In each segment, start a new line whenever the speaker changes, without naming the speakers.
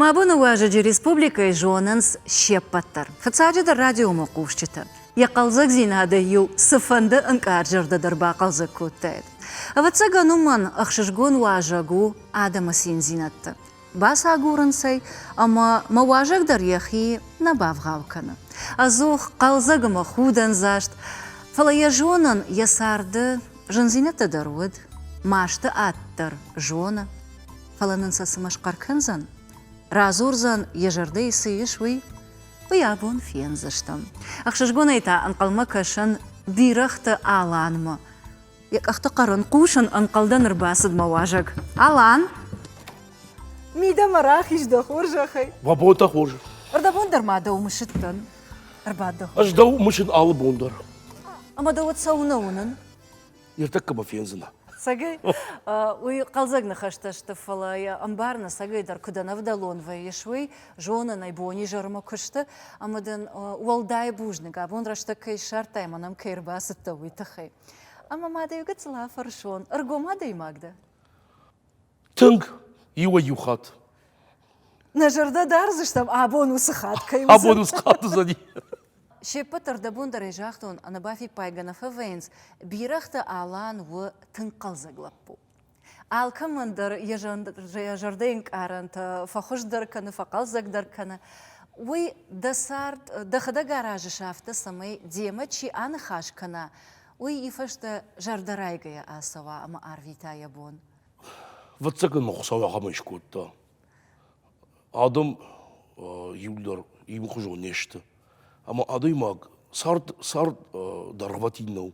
Мӕ боны уӕзӕджы республикӕйы зонынц се ппӕт дӕр, фыццаджыдӕр радиомӕ хъусджытӕ. Йӕ хъӕлдзӕгдзинадӕй-иу цыфӕнды ӕнкъард зӕрдӕ дӕр бахъӕлдзӕг кодтаид. Ӕвӕццӕгӕн уымӕн ӕхсызгон уӕзӕг у адӕмы циндзинӕдтӕ, бацагурынц ӕй ӕмӕ мӕ уӕзӕг дӕр йӕхи нӕ бавгъау кӕны. Ӕдзух хъӕлдзӕг ӕмӕ худӕндзаст, фӕлӕ йӕ зонын, йӕ царды зындзинӕдтӕ дӕр уыд, масты ад дӕр зоны. фӕлӕ нын сӕ цымӕ схъӕр кӕндзӕн? Радзурдзӕн, йӕ зӕрдӕйы цы ис, уый? Уый абон фендзыстӕм. Ӕхсызгонӕй та ӕнхъӕлмӕ кӕсын Бирӕгъты Аланмӕ. Йӕ къӕхты хъӕрын, хъусын ӕнхъӕлдӕн ӕрбацыд мӕ уазӕг. Алан! Мидӕмӕ рахиз дӕ хорзӕхӕй! Мӕ бон дӕ хорз!
Ӕрдӕбон дӕр ма
дӕу мысыдтӕн. Ӕрбад дӕ. Ӕз дӕу мысын
алы бон дӕр. Ӕмӕ дӕ уӕд
цӕуылнӕ уынын? Иртӕккӕ
мӕ фендзынӕ. Сагӕй?
Уый хъӕлдзӕг ныхӕстӕ сты, фӕлӕ йӕ ӕмбар нӕсӕгӕй дӕр куыд ӕнӕвдӕлон вӕййыс, уый. Зонын ӕй, бонизӕрмӕ куы сты, ӕмӕ дын уӕлдай бузныг, абон рӕстӕг кӕй ссардтай мӕ нӕм кӕй ӕрбацыдтӕ, уый тыххӕй. Ӕмӕ ма дӕ иу гыццыл афӕрсон, ӕргом адӕймаг дӕ?
Тынг иуӕй-иу хатт.
Нӕ зӕрдӕ дардзыстӕм абон уыцы хатт кӕй уыдзӕн. Абон уыцы хатт уыдзӕни.
Се ппӕт дӕр
дӕ бон дӕр ӕй загътон, ӕнӕбафиппайгӕ нӕ фӕвӕййынц. Бирӕгъты Алан у тынг хъӕлдзӕг лӕппу. Алкӕмӕн дӕр йӕ зӕрдӕйы ӕнкъарӕнтӕ фӕхуыздӕр кӕны, фӕхъӕлдзӕгдӕр кӕны. Уый дӕ цард, дӕхӕдӕг аразыс афтӕ, цӕмӕй демӕ чи аныхас кӕна, уый и фӕстӕ зӕрдӕрайгӕйӕ ацӕуа ӕмӕ арвита йӕ бон. Фыццаг
мӕ Хуыцау ахӕмӕй скодта. Адӕм иууылдӕр иумыхуызон не сты. Ӕмӕ адӕймаг цард цард дӕргъвӕтин нӕу.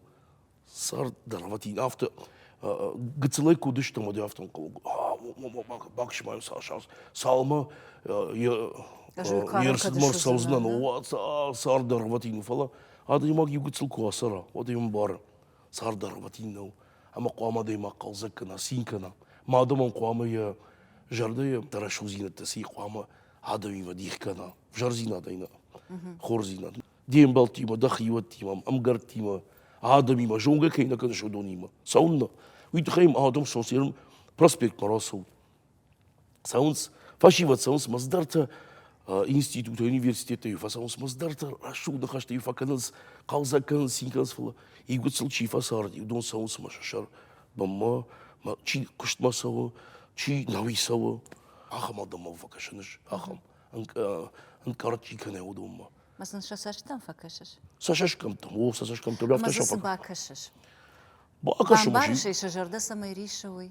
Цард дӕргъвӕтин. Афтӕ гыццылӕй куы уыдыстӕм, уӕд афтӕ ӕнхъӕл баксма цалынмӕ ме рцӕудзынӕн, цард дӕргъвӕтин у. Фӕлӕ адӕймаг иу гыццыл куы ацӕра, уӕд ӕм бары. Цард дӕргъвӕтин нӕу. ӕмӕ хъуамӕ адӕймаг хъӕлдзӕг кӕна, цин кӕна. Ма адӕмон хъуамӕ йӕ зӕрдӕйы рӕсугъддзинӕдтӕ сӕ хъуамӕ адӕмимӕ дих кӕна, взӕрдзинадӕй нӕ, хорздзинад. Де мбӕлттимӕ, дӕ хиуӕттимӕ, ӕмгӕрттимӕ, адӕмимӕ зонгӕ кӕй нӕ кӕныс уыдонимӕ, цӕуыннӕ. Уый тыххӕй адӕм социалон проспект ма рацӕут. Цӕуынц, фӕсивӕд цӕуынц мӕздӕртӕ институты, университеттӕй фӕцӕуынц мӕздӕртӕ, рӕсугъд ныхӕстӕ-иу фӕкӕнынц, хъӕлдзӕг кӕнынц, цин кӕнынц, фӕлӕ иугуыт сыл чи фӕцард, уыдон цӕуынц мӕ сӕр бонмӕ, чи куыстмӕ цӕуы, чи науи цӕуы, ахӕм адӕммӕ фӕкӕсӕн ис, ахӕм ӕнкъард чи кӕнӕ уыдонмӕ. Ма сын сӕ цӕстытӕм
фӕкӕсыс? Сӕ цӕсгӕмттӕм, о,
сӕ цӕсгӕмттӕм. Ма дзы цы бакӕсыс?
Бакӕсын,
бамбарыс ӕй, сӕ зӕрдӕ
цӕмӕй риссы, уый?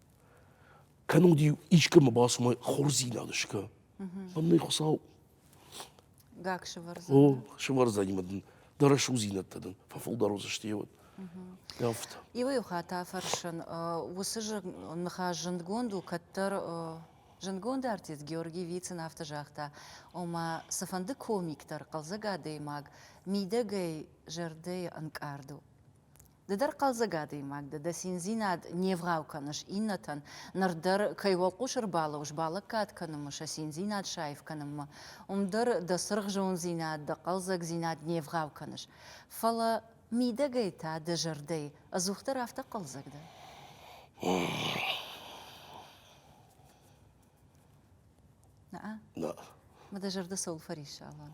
кӕнон ди искӕмӕ бацумӕ хорздзинад скӕ мӕн нӕй хуцау
гак сывӕрдзӕн о сывӕрдзӕни
мӕ дын дӕ рӕсугъдзинӕдтӕ дын фӕфылдӕр уыдзысты йеуӕд афтӕ иуӕй хатт
афӕрсын уыцы ныхас зындгонд у кӕддӕр зындгонд артист георгий вицин афтӕ загъта ома цыфӕнды комик дӕр хъӕлдзӕг адӕймаг мидӕгӕй зӕрдӕйы ӕнкъард у Ды дӕр хъӕлдзӕг адӕймаг дӕ, дӕ циндзинад не вгъау кӕныс иннӕтӕн, ныр дӕр кӕй уӕлхъус ӕрбалӕууыс балӕггад кӕнынмӕ, сӕ циндзинад саив кӕнынмӕ, уым дӕр дӕ цыргъ зондзинад, дӕ хъӕлдзӕгдзинад не вгъау кӕныс. Фӕлӕ мидӕгӕй та дӕ зӕрдӕ ӕдзухдӕр афтӕ хъӕлдзӕг дӕ? Наа?
Наа. Ма дӕ зӕрдӕ
цӕуыл фӕриссалан?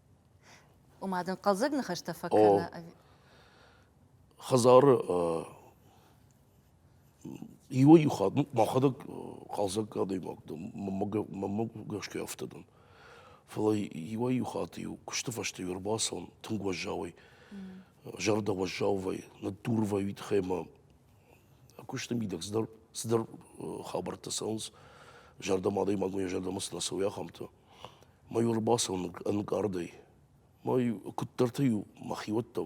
Ома дын хъӕлдзӕг ныхӕстӕ фӕкӕны? Хӕдзары
иуӕй-иу хатт мӕхӕдӕг хъӕлдзӕг адӕймаг дӕн, мӕнмӕ гӕсгӕ афтӕ дӕн. Фӕлӕ иуӕй-иу хатт-иу куысты фӕстӕ ӕрбацӕуын тынг уӕззауӕй, зӕрдӕ уӕззаувӕй, ныддурвӕй уый тыххӕй ӕмӕ куысты мидӕг цыдӕр цыдӕр хабӕрттӕ цӕуынц, зӕрдӕмӕ, адӕймагмӕ йӕ зӕрдӕмӕ цы нӕ цӕуы, ахӕмтӕ. Майор бацӕуы ӕнкъардӕй. Мӕй куыддӕртӕ-иу мӕхиуӕттӕ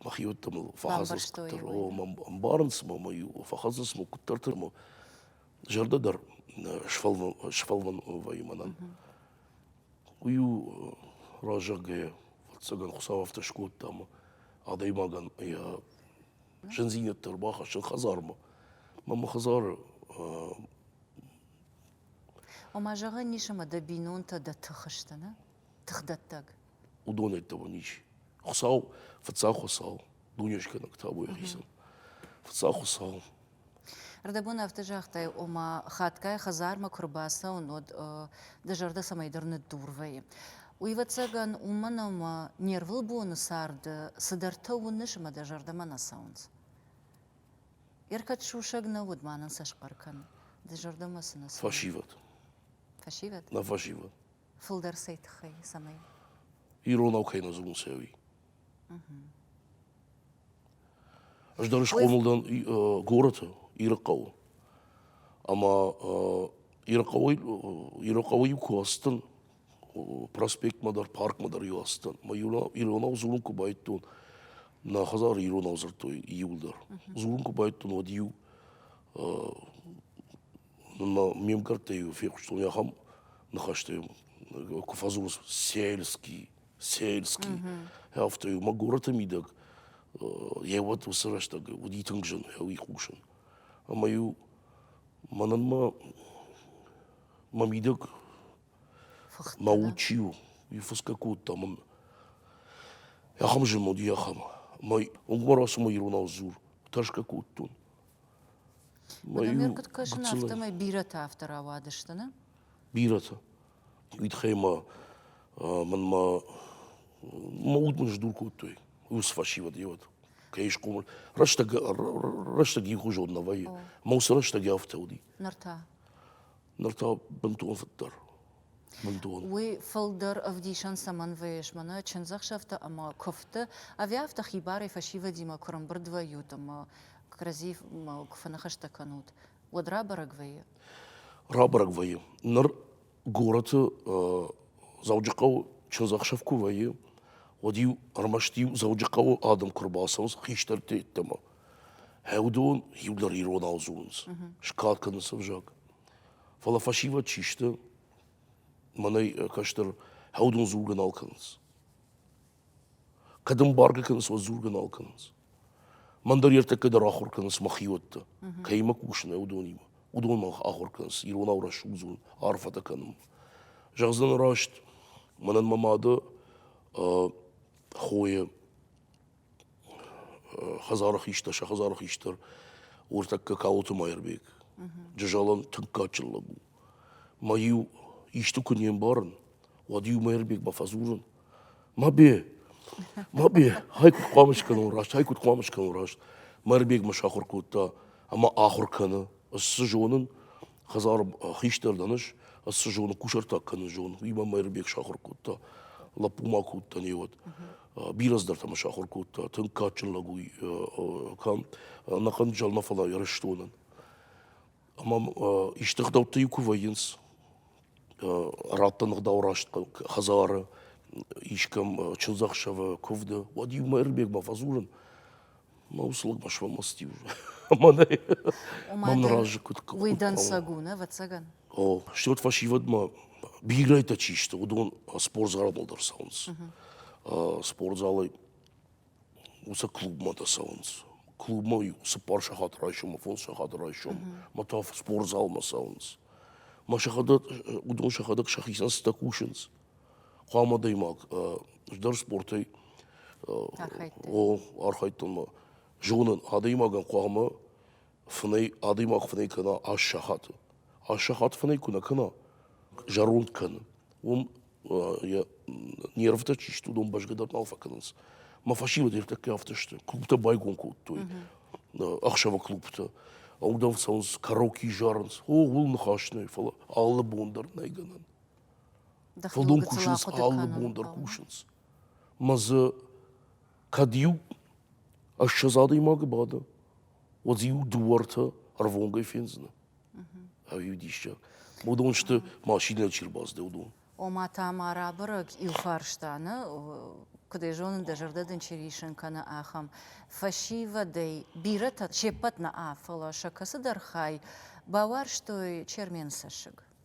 мӕхиуӕттӕ мыл фӕхӕцынц куыддӕр. О, мӕ ӕмбарынц мӕ мӕй фӕхӕцынц мыл куыддӕртӕ мӕ зӕрдӕ дӕр сфӕлвӕнвӕйы мӕнӕн. Уый у разӕггӕйӕ, ӕвӕццӕгӕн, Хуыцау афтӕ скодта ӕмӕ адӕймагӕн йӕ зындзинӕдтӕ ӕрбахӕссын хӕдзармӕ. Мӕ мӕ хӕдзары
Ома, зӕгъӕн ис ӕмӕ дӕ бинонтӕ дӕ тых сты, нӕ? Тыхдӕттӕг. Уыдонӕй
дӕуӕн ис. Хуыцау, фыццаг Хуыцау, дунескӕнӕг та уый хицӕн. Фыццаг Хуыцау. Ӕрдӕбон
афтӕ загътай, ома, хатгай хӕдзармӕ куы рбацӕуын, уӕд дӕ зӕрдӕ цӕмӕйдӕр ныддур вӕййы. Уыйвӕццӕгӕн, уымӕн ӕмӕ не рвылбоны царды цыдӕртӕ уыныс ӕмӕ дӕ зӕрдӕмӕ нӕ цӕуынц. Ӕркӕд сусӕг нӕ уыд, ма нын сӕ схъӕр кӕн. Ды зӕрдӕмӕ цы нӕ цы? Фӕсивӕд.
Фӕсивӕд?
Нӕ фӕсивӕд.
Фылдӕр цӕй
тыххӕй, цӕмӕй? Иронау
кӕй нӕ дзурын цӕуи. Ӕз дӕр схъомыл дӕн горӕты, Ирыхъӕуы. Ӕмӕ Ирыхъӕуы Ирыхъӕуы-иу куы ацыдтӕн, проспектмӕ дӕр паркмӕ дӕр иу ацыдтӕн мӕ иронау дзурын куы байдтон нӕ хӕдзары иронау дзырдтой иуылдӕр дзурын куы байдтон уӕд иу нынмӕ ме мгӕрттӕй иу фехъуыстон ахӕм ныхӕстӕ куы фӕдзурыс сельский сельский афтӕ иу мӕ горӕты мидӕг йӕ уӕт уыцы рӕстӕг уыди тынг зын уый хъусын ӕмӕ иу мӕнӕн мӕ мӕ мидӕг Мӕ уд чи у, уый фысгӕ кодта мын ахӕм зынуыди, ахӕм. Ӕмӕ уынгбӕр ацыма иронау дзур, тӕрсгӕ кодтон. Ӕмӕ куыд
кӕсын, афтӕмӕй бирӕтӕ афтӕ рауадысты, нӕ? Бирӕтӕ.
Уый тыххӕй мӕ мӕнмӕ мӕ уд мын сдур кодтой уыцы фӕсивӕд йе уӕд. Кӕй схъомыл. Рӕстӕг, рӕстӕг иухуызон нӕ вӕййы. Мӕ уыцы рӕстӕг афтӕ уыди. Ныр та? Ныр та бынтон фыддӕр, бынтон.
Уый фылдӕр ӕвдисӕн цӕмӕн вӕййыс мӕнӕ чындзӕхсӕвтӕ ӕмӕ куывдты? Ӕви афтӕ хибарӕй фӕсивӕдимӕ куырымбырд вӕййут ӕмӕ кӕрӕдзимӕ куы фӕныхӕстӕ кӕнут, уӕд рабӕрӕг вӕййы? Рабӕрӕг
вӕййы. Ныр горӕты Дзӕуджыхъӕуы чындзӕхсӕв куы вӕййы, уӕд-иу ӕрмӕст-иу Дзӕуджыхъӕуы адӕм куы ӕрбацӕуынц хистӕртӕ йеддӕмӕ. Уыдон иудӕр иронау дзурынц, скад кӕнынц ӕвзаг. Фӕлӕ фӕсивӕд чи сты, мӕнӕй кӕстӕр уыдон дзургӕ нал кӕнынц. Кӕд эмбарго кӕнынц, уӕд дзургӕ нал кӕнынц. Мӕн дӕр ертӕккӕ дӕр ахуыр кӕнынц мӕхиуӕттӕ. Кӕимӕ кусын, уыдонимӕ. Уыдон мӕ ахуыр кӕнынц иронау рӕсугдзон арфӕтӕ кӕнынмӕ. Зӕгъдзӕн раст, мӕнӕн мӕ мады хойы хӕдзары хистӕр, сӕ хӕдзары хистӕр уртӕккӕ Калоты Майырбег. Джызӕлӕн тынггадджын лӕг у. Мӕ-иу исты куы не мбарын, уӕд-иу Майырбег бафӕдзурын. Мӕбе, Мӕбе, ай куыд хъуамӕ скӕнон раст, ай куыд хъуамӕ скӕнон раст. Майырбег мӕ сахуыр кодта ӕмӕ ахуыр кӕны. Ӕз цы зонын, хӕдзары хистӕр дӕн ӕз, ӕз цы зонын, кусӕртаг кӕнын зонын. Уый мӕ Майырбег сахуыр кодта. Лӕппу ма кодта не уӕд. бирӕ цыдӕртӕ мӕ сахуыр кодта. Тынг кадджын лӕг уый кӕм ӕнӕхъӕн зӕлмӕ, фӕлӕ Ирыстонӕн. Ӕмӕ исты гъдӕутты-иу куы вӕййынц, радтӕн ӕгъдау раст хӕдзары, искӕм чындзӕхсӕвы куывды, уӕд-иу мӕ Ирбегмӕ фӕдзурын, Мӕ уыцы лӕг бӕсфӕлмӕцыд-иу мӕнӕй. Мӕм ныр азы куыд Уый дӕнцӕг у, нӕ,
ӕвӕццӕгӕн? О, стӕй уӕд
фӕсивӕдмӕ бирӕтӕ чи сты, уыдон спортзаладыл дӕр цӕуынц. Спортзалӕй уыцы клубмӕ дӕр цӕуынц. Клубмӕ-иу цыппар сахаты райсом, фондз сахаты райсом мӕ та спортзалмӕ цӕуынц. Мӕ сӕхӕдӕг, уыдон сӕхӕдӕг сӕхицӕн цытӕ кусынц. хъуамӕ адӕймаг здӕр спортӕй архайдтонмӕ зонын адӕймагӕн хъуамӕ фынӕй адӕймаг фынӕй кӕна ас сахаты ас сахат фынӕй куы нӕ кӕна зӕронд кӕны уым йӕ нервтӕ чи сты уыдон бӕзгӕ дӕр нал фӕкӕнынц мӕ фӕсивӕд ӕртӕккӕ афтӕ сты клубтӕ байгом кодтой ӕхсӕвы клубтӕ ӕлдӕн цӕуынц караоке зарынц о ууыл ныхас нӕй фӕлӕ алы бон дӕр нӕй гӕнӕн Фылдон кусынц, алы бон дӕр кусынц. Мӕ дзы кӕд-иу ӕссӕдз адӕймагы бады, уӕд иу дыууӕртӕ ӕрвонгӕй фендзынӕ. Ӕви диссаг. Уыдон сты машинӕ чи рбацыд, уыдон. Ома та ма
рабӕрӕг иу фарстаны, куыд ӕй зонын, дӕ зӕрдӕ дын чи риссын кӕны, ахӕм. Фӕсивӕдӕй бирӕтӕ се ппӕт нӕ, фӕлӕ сӕ кӕцыдӕр хай бауарзтой Чермен цӕссыг.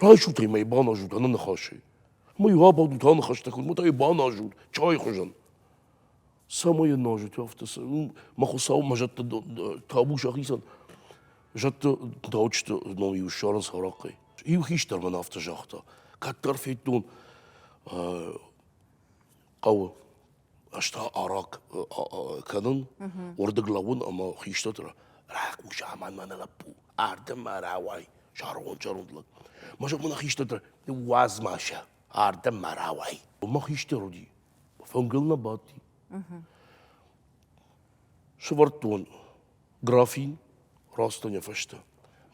Райсут ӕмӕ йӕ баназут ӕнӕ ныхасӕй. Ӕмӕ-иу абадут аныхӕстӕ куыд, мӕ та йӕ баназут чайы хуызӕн. Цӕмӕй йӕ назут афтӕ, цы, мӕ хуыцау, мӕ зӕдты табу сӕхицӕн. Зӕдты даучыты ном-иу ссарын сарахъхъӕй. Иу хистӕр мын афтӕ загъта, кӕддӕр федтон хъӕуы. ӕз та араӕ кӕнын, уырдыг лӕууын ӕмӕ хистӕрты ры рахъус, амӕн мӕнӕ лӕппу, арды мӕ рауай, зӕронд-зӕронд лӕг. Мӕ зӕгъ мӕнӕ хистӕртӕ, уадз ма сӕ, ардӕм мӕ рауай. Мӕ хистӕр уыди, фынгыл нӕ бадти. Сывӕрдтон графин растанӕ фӕстӕ.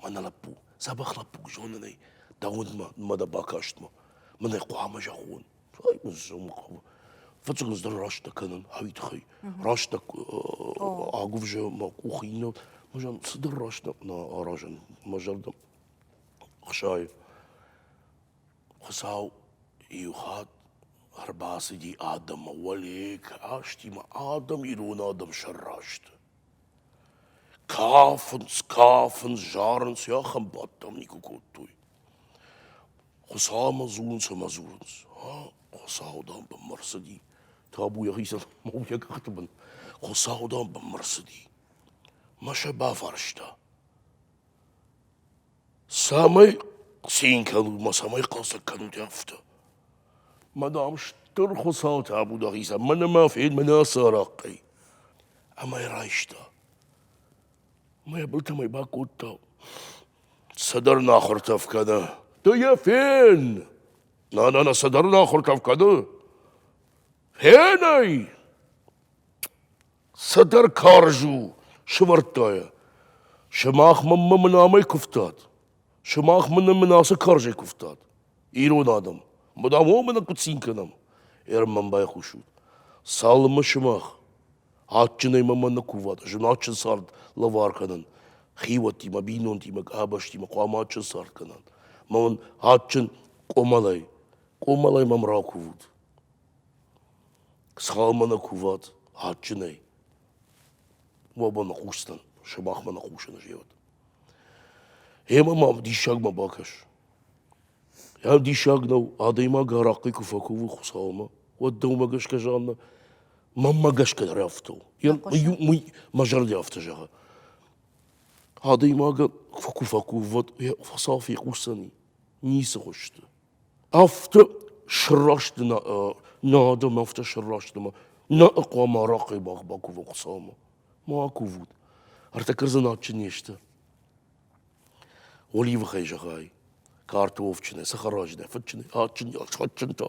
Мӕнӕ лӕппу, дзӕбӕх лӕппу, зонын ӕй, дӕ уындмӕ, мӕ дӕ бакастмӕ. Мын ӕй хъуамӕ зӕгъон. зӕгъын хъӕуы фыццаг ӕз дӕр рӕстӕг кӕнын ӕви тыххӕй рӕстӕг агуывзӕ мӕ къухы иннӕ мӕ зӕгъын цыдӕр рӕстӕг нӕ аразын мӕ зӕрдӕ хсайы хуыцау иу хатт ӕрбацыди адӕммӕ уӕле кастимӕ адӕм ирон адӕм сӕрра сты Кафынц, кафынц, зарынц, йӕхӕм бадтам, никуы кодтой. Хуыцаумӕ дзурынц ӕмӕ дзурынц. Ӕ, Хуыцауы, дам, бынмӕ рцыди. Табу йӕхицӕн, ма уый йӕ къӕхты бын. Хуыцауы, дам, бынмӕ рцыди. Мӕ сӕ бафарста. Цӕмӕй цин кӕнут ӕмӕ цӕмӕй хъӕлдзӕг кӕнут, афтӕ. Ма, дам, стыр хуыцау табу дӕхицӕн, мӕнӕ ма фед мӕнӕ ацы арахъхъӕй. Ӕмӕ йӕ райста. Ӕмӕ йӕ былтӕм ӕй бакодта. Цӕдӕр нахуыртӕф кӕны. Ды йӕ фен! Нана, нӕ цӕдӕр нахуыртӕф кӕны? Фен ӕй! Цыдӕр карз у, сывӕрдта йӕ. сымах мӕнмӕ мын амӕй куывтат, сымах мын мын ацы карзӕй куывтат. ирон адӕм, мадам уомӕ куыд цин кӕнӕм? Ӕрмӕн байхъусут. цалынмӕ сымах адджынӕй мӕмӕ нӕ куват, зынадджын цард лӕвар кӕнын, хиуӕттимӕ, бинонтимӕ, къабӕзтимӕ хъуамӕ адджын цард кӕнат. мӕ мын адджын къуымӕлӕй, къуымӕлӕй мӕм ракувут. Схъалмӕ нӕ кувӕд адджынӕй, уӕ ба ныхъусдзӕн, сымахмӕ ныхъусын зӕгъӕд. Гъемӕ мӕм диссагмӕ бакӕс. Ӕм диссаг нӕу, адӕймаг арахъхъи куы фӕкувы Хуыцаумӕ, уӕд дӕумӕ гӕсгӕ, Жаннӕ, мӕнмӕ гӕсгӕ рӕфтау. Уый мӕ зӕрдӕ афтӕ зӕгъы. Адӕймагӕн куы фӕкувӕд, йӕ фӕсаф йӕ хъусдзӕни, ницы хуысты. афтӕ сраст надӕм афтӕ сраст ӕмӕ нӕ хъуамӕ арахъхъ бӕх бакува Хуыцаумӕ ма акувут ӕртӕ кӕрдзын адджын не сты оливыхӕй зӕгъай картофджынӕй цӕхӕраджынӕй фыдджынӕй адджын адджын та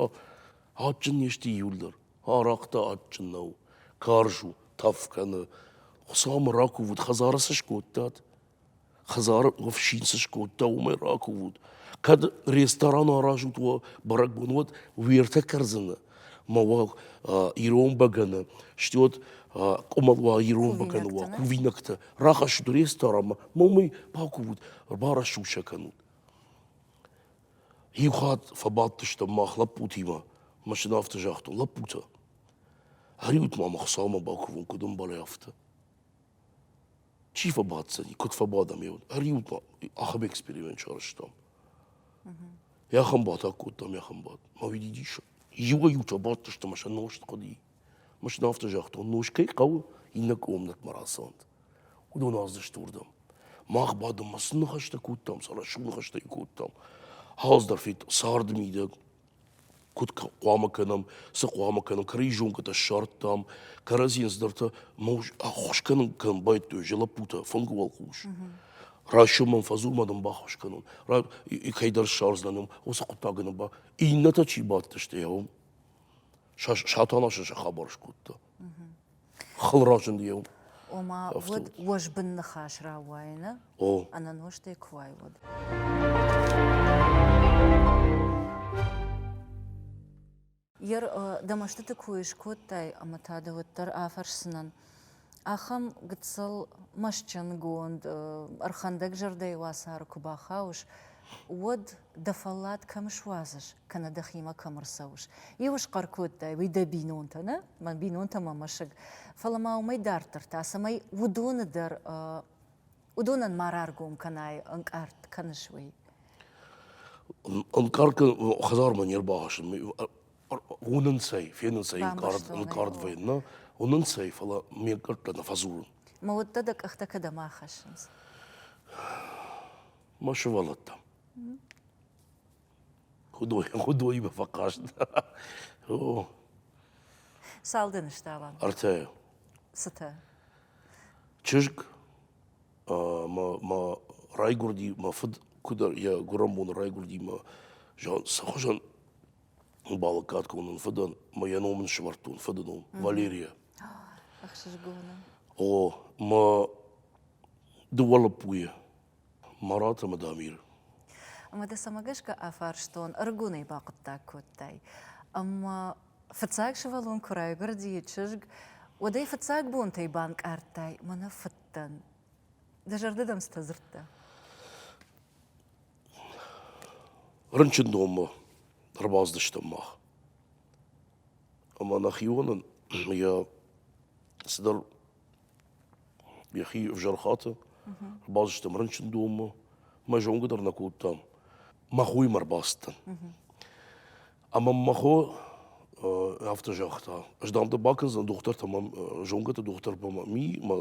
адджын не сты июль дӕр арахъ та адджын нӕу карз у тӕф кӕны Хуыцаумӕ ракувут хӕдзары цы скодтат Хӕдзары ӕфсин цы скодта, уымӕй ракувут. Кӕд ресторан аразут уӕ бӕрӕгбон, уӕд уертӕ кӕрдзыны ма уӕ ирон бӕгӕны, сты уӕд къуымӕл уа ирон бӕгӕны уа, кувинӕгтӕ. Рахӕссут ресторанмӕ, ма уымӕй бакувут, барӕсуг сӕ кӕнут. Иу хатт фӕбадтыстӕм мах лӕппутимӕ, машинӕ афтӕ загътон: лӕппутӕ, ӕриут-ма мӕ Хуыцаумӕ бакувон, куыд ӕмбӕлай, афтӕ. Чи фӕбӕтдзӕни, куыд фӕбадӕм, еуд. Ӕриу па ахӕм эксперимент сарӕзтам. Йӕхӕн батаг кодтам, йӕхӕн бадт. Ма уиди диссаг. Иуӕй-иу фӕбадтысты ӕмӕ сӕ нозт хъуыди. Мӕс нын афтӕ загътон, нос кӕй хъӕуы, иннӕ къуымнӕтмӕ рацӕуӕнт. Уыдон аздзысты уырдӕм. Мах бадынмӕ цы ныхӕстӕ кодтам, сӕ рӕсугъд ныхӕстӕ кодтам. Ӕз дӕр федтон, царды мидӕг Куыд хъуамӕ кӕнӕм, цы хъуамӕ кӕнӕм? Кӕрӕдзионкӕтӕ ссардтам, кӕрӕдзийӕн здӕртӕ мӕ ус ӕххуыс кӕнын кӕнын байдыдтой, уыцы лӕппутӕ фынгы уӕлхъус. Райсом мӕм фӕзылма дын баххуыс кӕнон, ра- кӕйдӕр ссардзынӕн ӕм, уыцы хъуыддаг ын ба. Иннӕтӕ чи бадтысты, йӕ уым. Са- Сатана сӕ хабар скодта. хыл разынди йыл. Ома уӕд
уӕзбын ныхас рауайыны ӕнӕнозтӕй
куы уай,
уӕд. Йер дӕ мӕстыты кой скодтай ӕмӕ та дӕ уӕддӕр афӕрсдзынӕн, ахӕм гыццыл мӕстджынгонд, ӕрхӕндӕг зӕрдӕйы уацары куы бахауыс, уӕд дӕ фӕллад кӕм суадзыс кӕнӕ дӕхимӕ кӕм ӕрцӕуыс, иу схъӕр кодтай, уый дӕ бинонтӕ нӕ, мӕн бинонтӕ мӕ мӕсыг, фӕлӕ ма уымӕй дарддӕр та, цӕмӕй уыдоны дӕр уыдонӕн ма раргом кӕнай, ӕнкъард кӕныс, уый.
Ӕнкъард хӕдзармӕ не рбахӕссын, уынынц ӕй, фенынц ӕй ӕнкъард, ӕнкъард вӕййын, нӕ уынынц ӕй, фӕлӕ ме ӕнкъӕрдтӕ нӕ фӕдзурын. Мӕ уӕддӕ дӕ
къӕхтӕ кӕдӕм ахӕссынц?
Мӕ сывӕллӕттӕм. Хуыдой, хуыдоимӕ фӕхъаст. О.
Цал дын стӕла? Ӕртӕ.
Цытӕ? Чызг ӕмӕ мӕ райгуырди, мӕ фыд куыд йӕ гуырӕн боны райгуырди мӕ цы хуызӕн балӕггад кӕнон фыдӕн, мӕ йӕ ном ын сӕвӕрдтон, фыды ном Валерия. Ӕхсызгон
у. О,
мӕ дыууӕ лӕппуйы Мараты Мадамир. Ӕмӕ дӕ
цӕмӕ гӕсгӕ афарстон, ӕрыгонӕй бахъуыддаг кодтай? Ӕмӕ фыццаг сывӕллон куы райгуырди чызг, уӕд ӕй фыццаг бонтӕй банкъардтай мӕнӕ фыдтӕн. Дӕ зӕрды дӕм цытӕ дзырдта?
Рынчын номмӕ ӕрбацыдыстӕм мах. Ӕмӕ нӕхионӕн йӕ цыдӕр йӕхи ӕвзӕр хаты. Базыстам рынчындонмӕ. Мӕ зонгӕ дӕр нӕ кодтам. Мӕ хоймӕ ӕрбацыдтӕн. Ӕмӕ мӕ хо афтӕ загъта, ӕз дам дӕ бакӕндзӕн, дохтыртӕ мӕм, зонгӕты дохтыртӕ мӕ ми, мӕ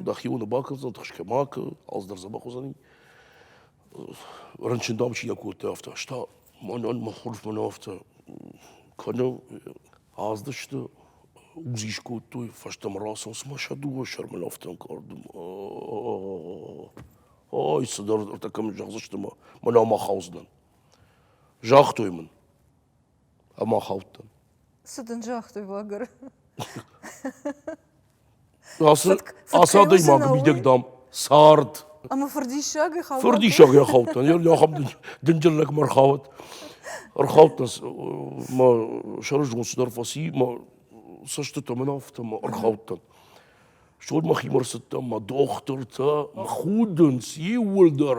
дӕхионы бакӕндзӕн, тыхсгӕ ма кӕ, алцыдӕр дзӕбӕх уыдзӕни. рынчындоны чи йӕ кодта, афтӕ. Ӕз та мӕнӕн мӕ хорз мын афтӕ кӕны, аздысты, УЗИ скодтой, фӕстӕмӕ рацӕуынц мӕ сӕ дыууӕ сӕр мын афтӕ ӕнкъардым. Ай, цыдӕр, ӕртӕ кӕмӕн зӕгъдзысты мӕ, мӕнӕ ма хаудзынӕн. Загътой мын. ӕмӕ хаудтӕн.
Цы
дын загътой лагеры? Ацы ацы адӕймаг мидӕг, дам, цард. Ӕмӕ
фырдиссагӕй хаудтӕн?
Фырдиссагӕй хаудтӕн. Ахӕм дынджыр лӕгмар хауӕд. Ӕрхаудтӕн мӕ сӕрызгон цыдӕр фӕци, мӕ цӕстытӕ мын афтӕ мӕ ӕрхаудтӕн. Стӕй мӕхимӕ ӕрцыдтӕн, мӕ дохтыртӕ мӕ худынц иууылдӕр.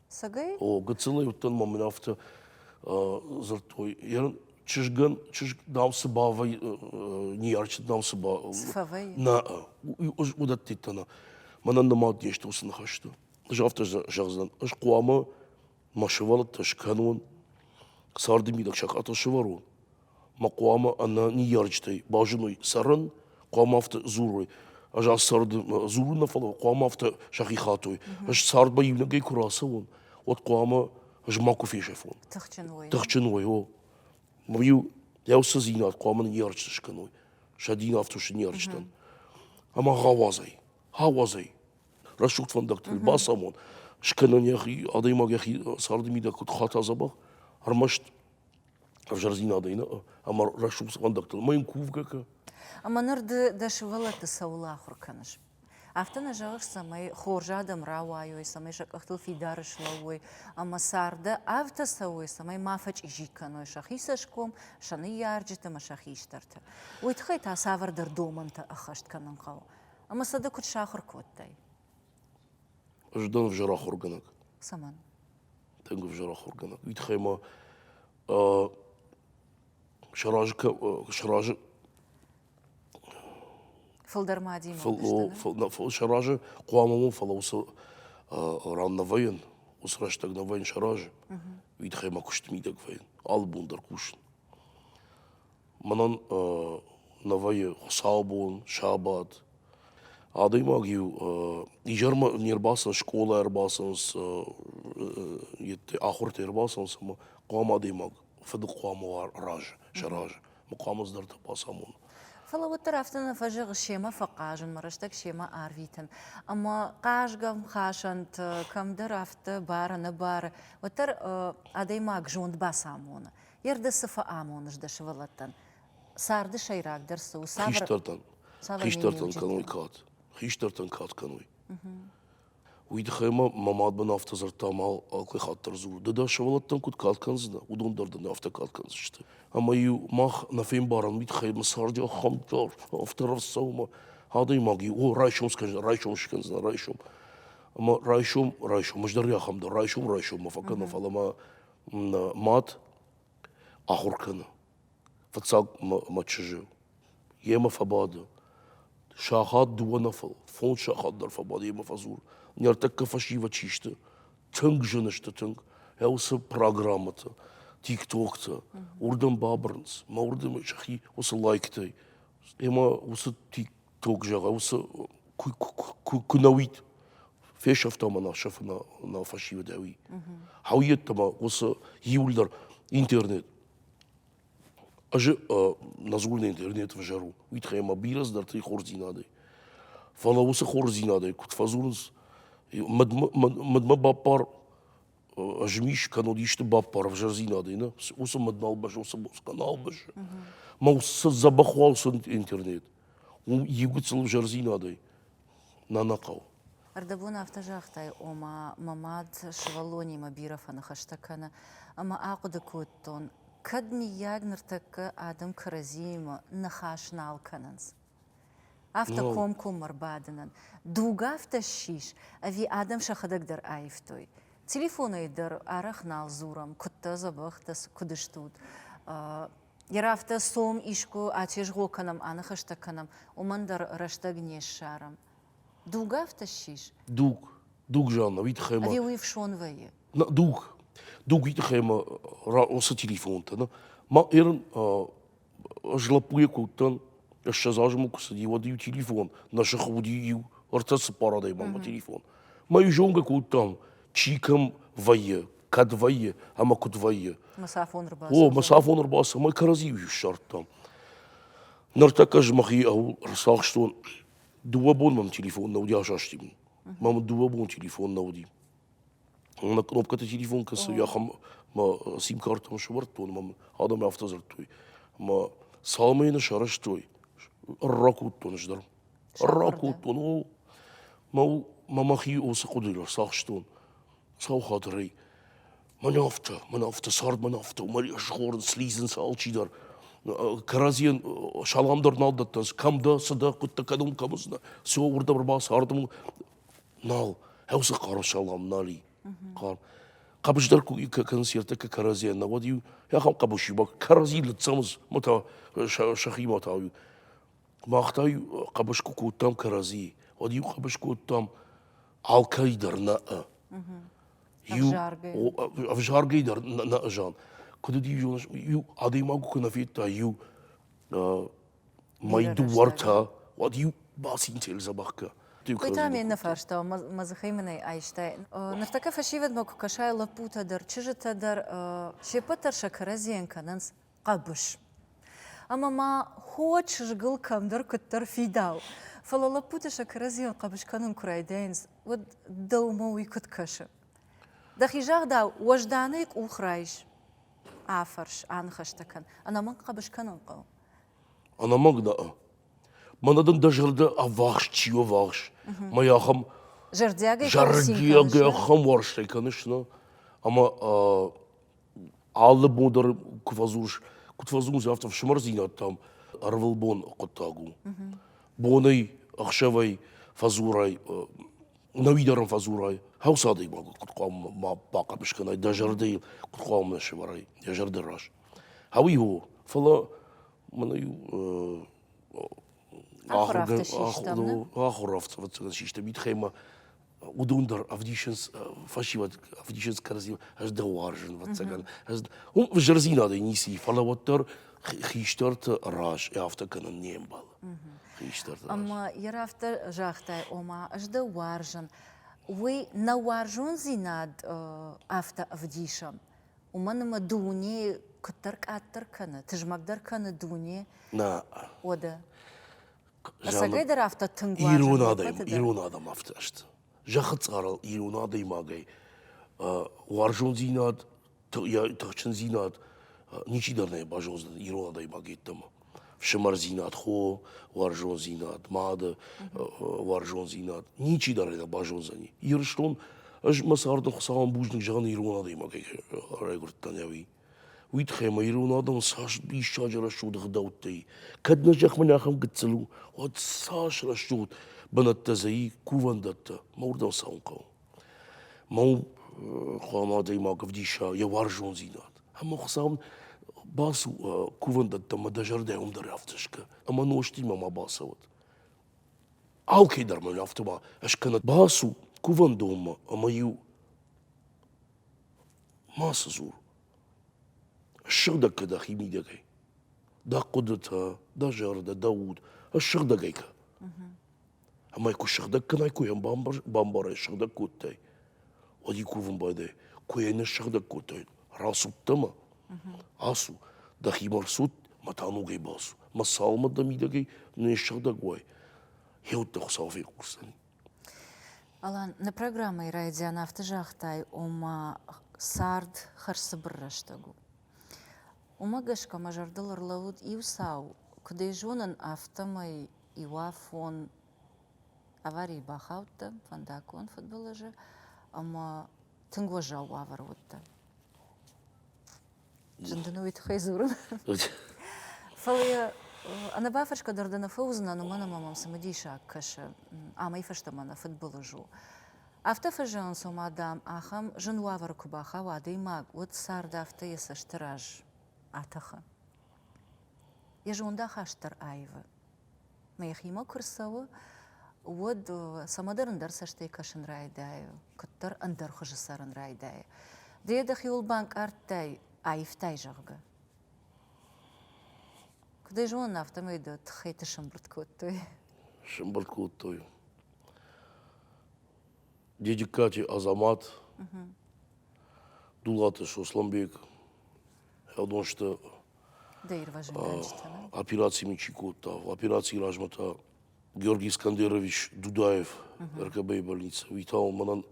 Сагай? О,
гыццылӕй уыдтӕн
ма мын афтӕ дзырдтой, йӕ чызгӕн чызг дам цы бавӕй ниярчы дам цы ба нӕ уыдӕттӕ нӕ мӕнӕн нымад не сты уыцы ныхӕсты. Ӕз афтӕ зӕгъдзӕн, ӕз хъуамӕ мӕ сывӕллӕттӕ скӕнон, царды мидӕг сакъатыл сывӕрон, ма хъуамӕ ӕнӕ ныййарджытӕй базыной цӕрын, хъуамӕ афтӕ дзурой. Ӕз ацы царды дзурын нӕ фӕлӕ хъуамӕ афтӕ сӕхи хатой. Ӕз цардмӕ иунӕгӕй куы рацӕуон, уӕд хъуамӕ ӕз макуы фесӕфон. Тыхджын уой. Тыхджын уой, о. Ма-иу йӕ уыцыдзинад хъуамӕ ныййарджыты скӕной. Сӕ дин афтӕ у сӕ ныййарджытӕн. Ӕмӕ гъӕуазӕй, гъӕуазӕй рӕсугъд фӕндӕгтыл бацамон, скӕнон йӕхи, адӕймаг йӕхи царды мидӕг куыд хата дзӕбӕх, ӕрмӕст ӕвзӕрдзинадӕй нӕ ӕмӕ рӕсугъд цуандӕгтыл ӕмӕ йын кувгӕ кӕ. Ӕмӕ ныр
ды дӕ сывӕллӕтты цӕуыл ахуыр кӕныс? Афтӕ нӕ зӕгъыс, цӕмӕй хорз адӕм рауайой, цӕмӕй сӕ къӕхтыл фидар слӕууой ӕмӕ царды авгтӕ цӕуой, цӕмӕй ма фӕчъизи кӕной сӕхи цӕсгом, сӕ ныййарджыты ӕмӕ сӕ хистӕрты. Уый тыххӕй та цавӕрдӕр домӕнтӕ ӕххӕст кӕнын хъӕуы. Ӕмӕ сӕ дӕ куыд сахуыр кодтай?
Ӕз дӕн ӕвзӕр ахуыргӕнӕг. Цӕмӕн?
Тынг
ӕвзӕр ахуыргӕнӕг. Уый тыххӕй мӕ ӕ сразы кӕ сразы
Фылдӕр ма адӕймаг фыл сты,
нӕ? фыл нӕ фыл сразы хъуамӕ уон, фӕлӕ
уыцы
ӕ ран нӕвӕййын, уыцы рӕстӕг нӕвӕййын сӕ разы. Уый тыххӕй мӕ куысты мидӕг вӕййын, алы бон дӕр кусын. Мӕнӕн нӕ вӕййы хуыцаубон, сабат. Адӕймаг-иу изӕрмӕ не рбацӕуынц, скъола ӕрбацӕуынц, ахуыртӕ ӕрбацӕуынц ӕмӕ хъуамӕ адӕймаг фыды хъуамӕ уа разы, сӕ разы. Ма хъуамӕ ӕдзыдӕртӕ бацамона. Фӕлӕ уӕддӕр
афтӕ нӕ фӕзӕгъы, семӕ фӕхъазынмӕ, рӕстӕг семӕ арвитын. Ӕмӕ хъазгӕ-мхасӕнты кӕмдӕр афтӕ бары-нӕбары, уӕддӕр адӕймаг зонд бацамоны. Ирды цы фӕамоныс дӕ сывӕллӕттӕн? Царды сӕйрагдӕр цы у? Хистӕртӕн,
хистӕртӕн кӕной кад. Хистӕртӕн кад кӕной. Уый тыххӕй ма мӕ мадбын афтӕ дзырдта, мал алкӕй хатт дӕр дзуры, ды дӕ сывӕллӕттӕн куыд кад кӕндзынӕ, уыдон дӕр дын афтӕ кад кӕндзысты. Ӕмӕ-иу мах нӕ фембарӕм, уый тыххӕй мӕ царди ахӕм дӕр афтӕ рацӕуы, адӕймаг и, о, райсом скӕндзынӕ, райсом скӕндзынӕ, райсом. Ӕмӕ райсом, райсом, ӕз дӕр ахӕм дӕр, райсом, райсоммӕ фӕкӕнӕм, фӕлӕ мӕ мад ахуыр кӕны фыццаг мӕ чызджы йемӕ фӕбады сахат дыууӕ нӕ фӕлӕ фондз сахат дӕр фӕбады йемӕ фӕдзур ныртӕккӕ фӕсивӕд чи сты тынг зыны сты тынг йӕ уыцы программӕтӕ тиктоктӕ уырдӕм бабырынц мӕ уырдӕм сӕхи уыцы лайктӕй ӕмӕ уыцы Туг зӕгъӕм, куы нӕ уид, фесӕфтам ӕмӕ сӕфы нӕ фӕсивӕдӕуи. Хауы йеддӕмӕ уыцы июльдӕр интернет. Ӕз нӕ дзурын интернет ӕвзӕр у, уый тыххӕй ӕмӕ бирӕ цыдӕртӕ и хорздзинадӕй. Фӕлӕ уыцы хорздзинадӕй куыд фӕдзурынц, мадмӕ баппар змис кӕнон исты баппар ӕвзӕрдзинадӕй нӕ уыцы мадналбӕс уыцы каналбӕс мӕ цы дзӕбӕх уалсын интернет уым иугыцыл ӕвзӕрдзинадӕй нӕ нӕ хъӕуы ӕрдӕбон
афтӕ загътай ома мӕ мад сывӕллонимӕ бирӕ фӕныхӕстӕ кӕны ӕмӕ ахъуыды кодтон кӕд миййаг ныртӕккӕ адӕм кӕрӕдзиимӕ ныхас нал кӕнынц афтӕ комкоммӕ рбадынӕн. Дуг афтӕ ссис, ӕви адӕм сӕхӕдӕг дӕр аивтой? Телефонӕй дӕр арӕх нал дзурӕм, куыдтӕ дзӕбӕхтӕ, куыд стут. Йӕ афтӕ цом, искуы атезгъо кӕнӕм, аныхӕстӕ кӕнӕм, уымӕн дӕр рӕстӕг не ссарӕм. Дуг афтӕ ссис? Дуг. Дуг
зӕгъынӕ, уый тыххӕй мӕ. Ӕви уый ӕфсон вӕййы?
Нӕ, дуг.
Дуг уый тыххӕй мӕ, уыцы телефонтӕ, нӕ, мӕ Ӕрын злӕппуйӕ куы уыдтӕн, ссӕдз азы мыл куы цыди, уӕд иу телефон, нӕ сыхы уыди иу, ӕртӕ цыппар адӕйманмӕ телефон. Мӕ иу зонгӕ куы уыдтӕн, чи кӕм вӕййы, кӕд вӕййы ӕмӕ куыд вӕййы. Мысафон ӕрбацыд. О, мысафон ӕрбацыд, мӕ кӕрӕдзийыл иу ссардтам. Ныртӕккӕ ӕз мӕхи ау ӕрцахстон, дыууӕ бон мӕм телефон нӕ уыди асастин. Мӕм дыууӕ бон телефон нӕ уыди. мӕ кнопкӕты телефон кӕсы ахӕм мӕ сим-картӕм сӕвӕрдтон мӕм адӕм афтӕ дзырдтой ӕмӕ цалмы йын сарӕзтой ракодтон ӕз дӕр ракодтон о мӕ мӕ мӕхи уыцы хъуыдыйыл ӕрцахстон сау хатырӕй мӕн афтӕ мӕн афтӕ цард мӕн афтӕ мӕ схорд слизынц алчидӕр кӕрӕдзийӕн салам дӕр нал дӕттынц кӕм дӕ цы дӕ хъуыдтӕ кӕдӕм кӕмыдзынӕ все уырдӕм ӕрбацардам Нал, хӕусы хъӕры салам нал и. Хъӕр. Хъӕбыс дӕр куы концерты куы кӕрӕдзийӕ нӕ уӕд иу ахӕм хъӕбысимӕ кӕрӕдзи ныццӕмыз, ма та сӕхимӕ та иу. Мах та иу хъӕбыс куы кодтам кӕрӕдзи, уӕд иу хъӕбыс кодтам алкӕй дӕр нӕ. Иу ӕвзаргӕй дӕр нӕ зӕгъ. Куыд уыди, зоныс, иу адӕймаг куы нӕ федта, иу Мӕй дыууӕртӕ, уӕд иу бацинтел дзӕбӕх кӕ. Уый та ме
ныфӕстӕ, мӕ дзыхӕй мын ӕй айстай. Ныртӕккӕ фӕсивӕдмӕ куы кӕсай лӕппутӕ дӕр, чызджытӕ дӕр, се ппӕт дӕр сӕ кӕрӕдзийӕн кӕнынц хъӕбыс. Ӕмӕ ма хо чызгыл кӕмдӕр куыддӕр фидау. Фӕлӕ лӕппутӕ сӕ кӕрӕдзийӕн хъӕбыс кӕнын куы райдайынц, уӕд дӕумӕ уый куыд кӕсы? Дӕхи загъдау, уӕзданӕй къух райс. Афӕрс, аныхӕстӕ кӕн. Ӕнӕмӕнг хъӕбыс кӕнын хъӕуы. Ӕнӕмӕнг
нӕ. Мӕнӕ дын дӕ зӕрдӕ ӕввахс чи ӕввахс, мӕ ахӕм зӕрдиагӕй зӕрдиагӕй ахӕм уарзтӕй кӕныс, нӕ? Ӕмӕ алы бон дӕр куы фӕдзурыс, куыд фӕдзурынц, афтӕ фсымӕрдзинӕдтӕм ӕрвылбон хъуыддаг у. Бонӕй, ӕхсӕвӕй фӕдзурай, нӕуи дӕр ын фӕдзурай. Хъуыды хъуамӕ ма бахъӕбыс кӕнай, дӕ зӕрдӕйыл куыд хъуамӕ сӕвӕрай йӕ зӕрды раз. Ауи у, фӕлӕ мӕнӕ ахуыравцъывӕццӕгӕн систӕм
итхӕмӕ
уыдон дӕр ӕвдисынц фӕсивӕд ӕвдисынц кӕрӕдзимӕ ӕз дӕ уарзын вӕццӕгӕн уым зӕрдзинадӕй ницы и фӕлӕ уӕддӕр хистӕрты раз афтӕ кӕнын не мбӕлы хистӕрты ӕмӕ йӕ
рафтӕ загътай ома ӕз дӕ уарзын уый нӕ уарзондзинад афтӕ ӕвдисӕм уымӕн ӕмӕ дуне куыддӕр къаддӕр кӕны, тызмӕгдӕр кӕны дуне. Нӕ.
Уӕдӕ.
Ӕцӕгӕй дӕр афтӕ тынг Ирон адӕм, ирон адӕм
афтӕ сты. Зӕххы цъарыл ирон адӕймагӕй уарзондзинад, тыхджындзинад ничи дӕр нӕ базондзӕн ирон адӕймаг йеддӕмӕ. фсымӕрдзинад, хо уарзондзинад, мады уарзондзинад, ничи дӕр ӕй нӕ базондзӕни. Ирыстон, ӕз мӕ царды Хуыцауӕн бузныг зӕгъын ирон адӕймагӕй райгуырдтӕн ӕви. Уый тыххӕй мӕ ирон адӕм цас диссаджы рӕсугъд ӕгъдӕуттӕй, кӕд нӕ зӕхмӕ нӕхӕм гыццыл у, уӕд цас рӕсугъд бынӕттӕ дзы и, кувӕндӕттӕ, мӕ уырдӕм цӕуын хъӕуы. Мӕ хуӕн адӕймаг ӕвдиса йӕ уарзондзинад. Ӕмӕ Хуыцау бацу кувӕндӕттӕмӕ дӕ зӕрдӕйыл дӕр афтӕ скӕ ӕмӕ нозтимӕ ма бацӕуӕд. Алкӕйдӕр мӕн афтӕ ма скӕнӕд. Бацу кувӕндонмӕ ӕмӕ-иу мацы дзур. Ссыгъдӕг кӕ дӕхи мидӕгӕй. Дӕ хъуыдытӕ, дӕ зӕрдӕ, дӕ уд. Ссыгъдӕгӕй кӕ. Ӕмӕ куы сыгъдӕг кӕнай, куы йӕм бамбарай, сыгъдӕг кодтай, уӕд йын кувын байдайы, куы йӕ не ссыгъдӕг кодтай, рацудтӕ ма? Ацу, дӕхимӕ рцуд, мӕ та ногӕй бацу, мӕ цалмӕ дӕ мидӕгӕй не ссыгъдӕг уай, гъеуӕддӕ Хуыцау фехъусдзӕни.
Алан, нӕ программӕйы райдиан афтӕ загътай, ома цард хӕрзцыбыр рӕстӕг у. Уымӕ гӕсгӕ мӕ зӕрдыл ӕрлӕууыд иу цау, куыд ӕй зонын, афтӕмӕй Иуафон аварийы бахаудтӕн фӕндаггон фыдбылызы ӕмӕ тынг уӕззау уавӕр уыдтӕн. Зын дын уый тыххӕй дзурын. Фӕлӕ йӕ ӕнӕбафӕрсгӕ дӕр дӕ нӕ фӕуыдзынӕн, уымӕн ӕмӕ мӕм цымыдисаг кӕсы, амӕй фӕстӕмӕ нӕ фыдбылыз у. Афтӕ фӕзӕгъын, цома, дам, ахӕм зын уавӕры куы бахауа адӕймаг, уӕд цард афтӕ йӕ цӕсты раз атӕхы. Йӕ зондахаст дӕр аивы. Мӕ йӕхимӕ куы рцӕуы, уӕд цӕмӕдӕр ӕндӕр цӕстӕй кӕсын райдайы, куыддӕр ӕндӕр хуызы цӕрын райдайы. Ды йӕ дӕхиуыл банкъардтай, аивтай, зӕгъгӕ. Куыд ӕй зонын, афтӕмӕй дӕ тыххӕйты сӕмбырд кодтой. Сӕмбырд
кодтой. Дедиккати Азамат, Дулаты Сослӕнбег, Хӕдонсты операци ми чи кодта. Операцийы размӕ та Георгий Искандерович Дудаев, РКБ-йы больница, уый та уымӕн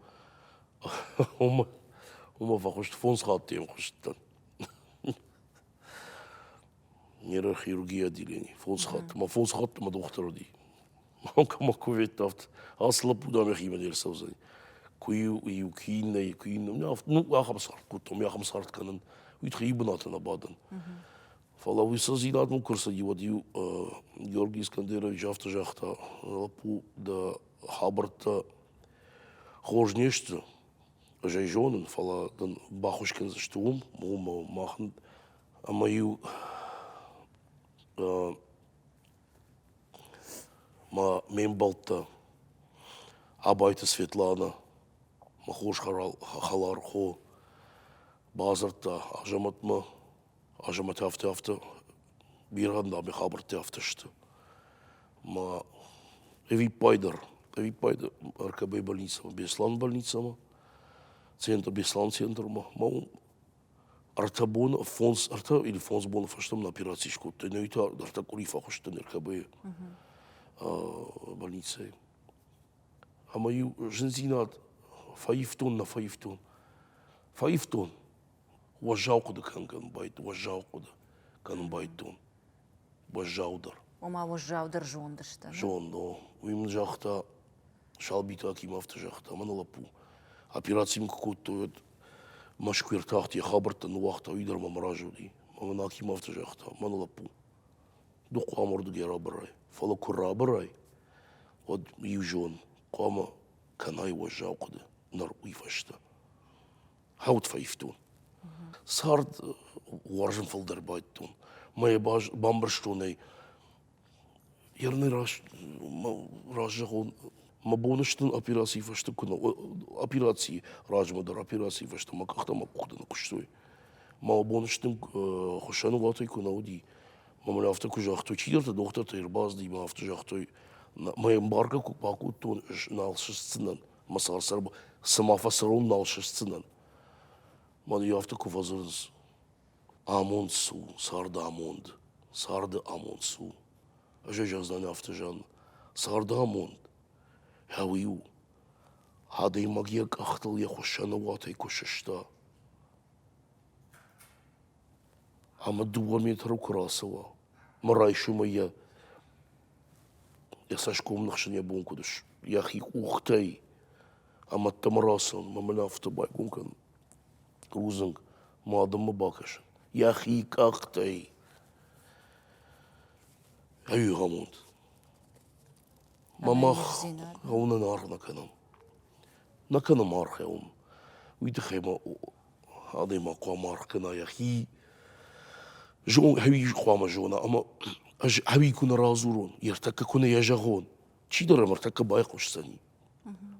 уымӕ фӕхуыст фондз хатты хъуыстытӕн. Нейрохирургия отделений. Фондз хатты. Мӕ фондз хатты мӕ дохтыр уыди. Локомӕ куветтавт, ацы лӕппу дам йӕхимӕ не рцӕудзӕни. Куы-иу, иу, куы иннӕйы, куы иннӕ. Ну, ахӕм цард кодтам, ахӕм цард кӕнын. Уый тыххӕй бынаты нӕ бадын. Фӕлӕ уый цы дзинадмӕ куы рцыди, уӕд иу Георгий Искандерович афтӕ загъта, лӕппу, дӕ хабӕрттӕ хорз не сты, ӕз ӕй зонын, фӕлӕ дын баххуыс кӕндзысты уым, уым мах ӕмӕ иу Мӕ ме мбӕлттӕ Абайты Светланӕ, мӕ хорз хӕлар хо, бадзырдта Азӕмӕтмӕ. Азӕмӕт афтӕ афтӕ бирӕ ӕндаме хабӕрттӕ афтӕ сты. Мӕ ӕвиппайдӕр, ӕвиппайды РКБ-йы больницӕмӕ, Беслӕн больницӕмӕ, центр, Беслӕн центрмӕ, мӕ уым Ӕртӕ боны, фондз, ӕртӕ или фондз боны фӕстӕ мын операци скодтой. Нӕ та ӕртӕ къуыри фӕхуыстын РКБ-йы больницӕйы. Ӕмӕ-иу зындзинад фӕивтон, нӕ фӕивтон. Фӕивтон. Уӕззау хъуыды кӕнын кӕнын байтон, уӕззау хъуыды кӕнын байдтон. Уӕззаудӕр. Ома
уӕззаудӕр зондысты. Зонд, о. Уый
мын загъта, Салбиты Аким афтӕ загъта, мӕнӕ лӕппу, операци мын куы кодтой, уӕд Мӕскуы ӕртахт, йӕ хабӕрттӕ ныууагъта, уый дӕр мӕм разы уыди. Ӕмӕ мын Аким афтӕ загъта, мӕнӕ лӕппу, ду хъуамӕ уырдыгӕй рабӕрай. Фӕлӕ куы рабӕрай, уӕд иу зон, хъуамӕ кӕнай уӕззау хъуыды ныр уый фӕстӕ. Хауд фӕивтон. Цард уарзын фылдӕр байдтон. Мӕ бамбӕрстон ӕй. Ерынӕй раст раззӕгъон, мӕ боны стын операцийы фӕстӕ куы нӕ операцийы размӕ дӕр операцийы фӕстӕ мӕ къӕхтӕ мӕ къухтӕ ныкъуыстой. Мӕ боны стын хуыссӕнуатӕй куы нӕ уыди, мӕ мын афтӕ куы загътой, чидӕртӕ дохтыртӕ ӕрбацыди, мӕ афтӕ загътой, мӕ ӕмбаргӕ куы бакодтон, ӕз нал сыстдзынӕн. мӕ сӕр цыма фӕсӕрон нал сыстдзынӕн. Мӕн иу афтӕ куы фӕдзырынц. Амонд цу, царды амонд, царды амонд цу. Ӕз ӕз афтӕ зӕгъын, царды амонд, ӕви у, адӕймаг йӕ къӕхтыл йӕ хуыссӕны уатӕй куы сыста, ӕмӕ дыууӕ метры куы рацӕуа, мӕ райсомӕй йӕ Йӕ цӕсгом ныхсын йӕ бон куыд ыс, йӕхи къухтӕй ӕмӕ ӕддӕмӕ рацӕуын, мӕ мын афтӕ байгом кӕн, рудзынг мӕ адӕммӕ бакӕсын, йӕхи къӕхтӕй. Ӕвигъӕмонд. Мӕ мах гъӕуы нӕ аргъ нӕ кӕнӕм. Нӕ кӕнӕм аргъ уым. Уый тыххӕй мӕ адӕймаг хъуамӕ аргъ кӕна йӕхи, зон, ӕви хъуамӕ зона ӕмӕ ӕз ӕви куы нӕ радзурон, ӕртӕккӕ куы нӕ йӕ зӕгъон, чидӕр ӕм ӕртӕккӕ байхъусдзӕни.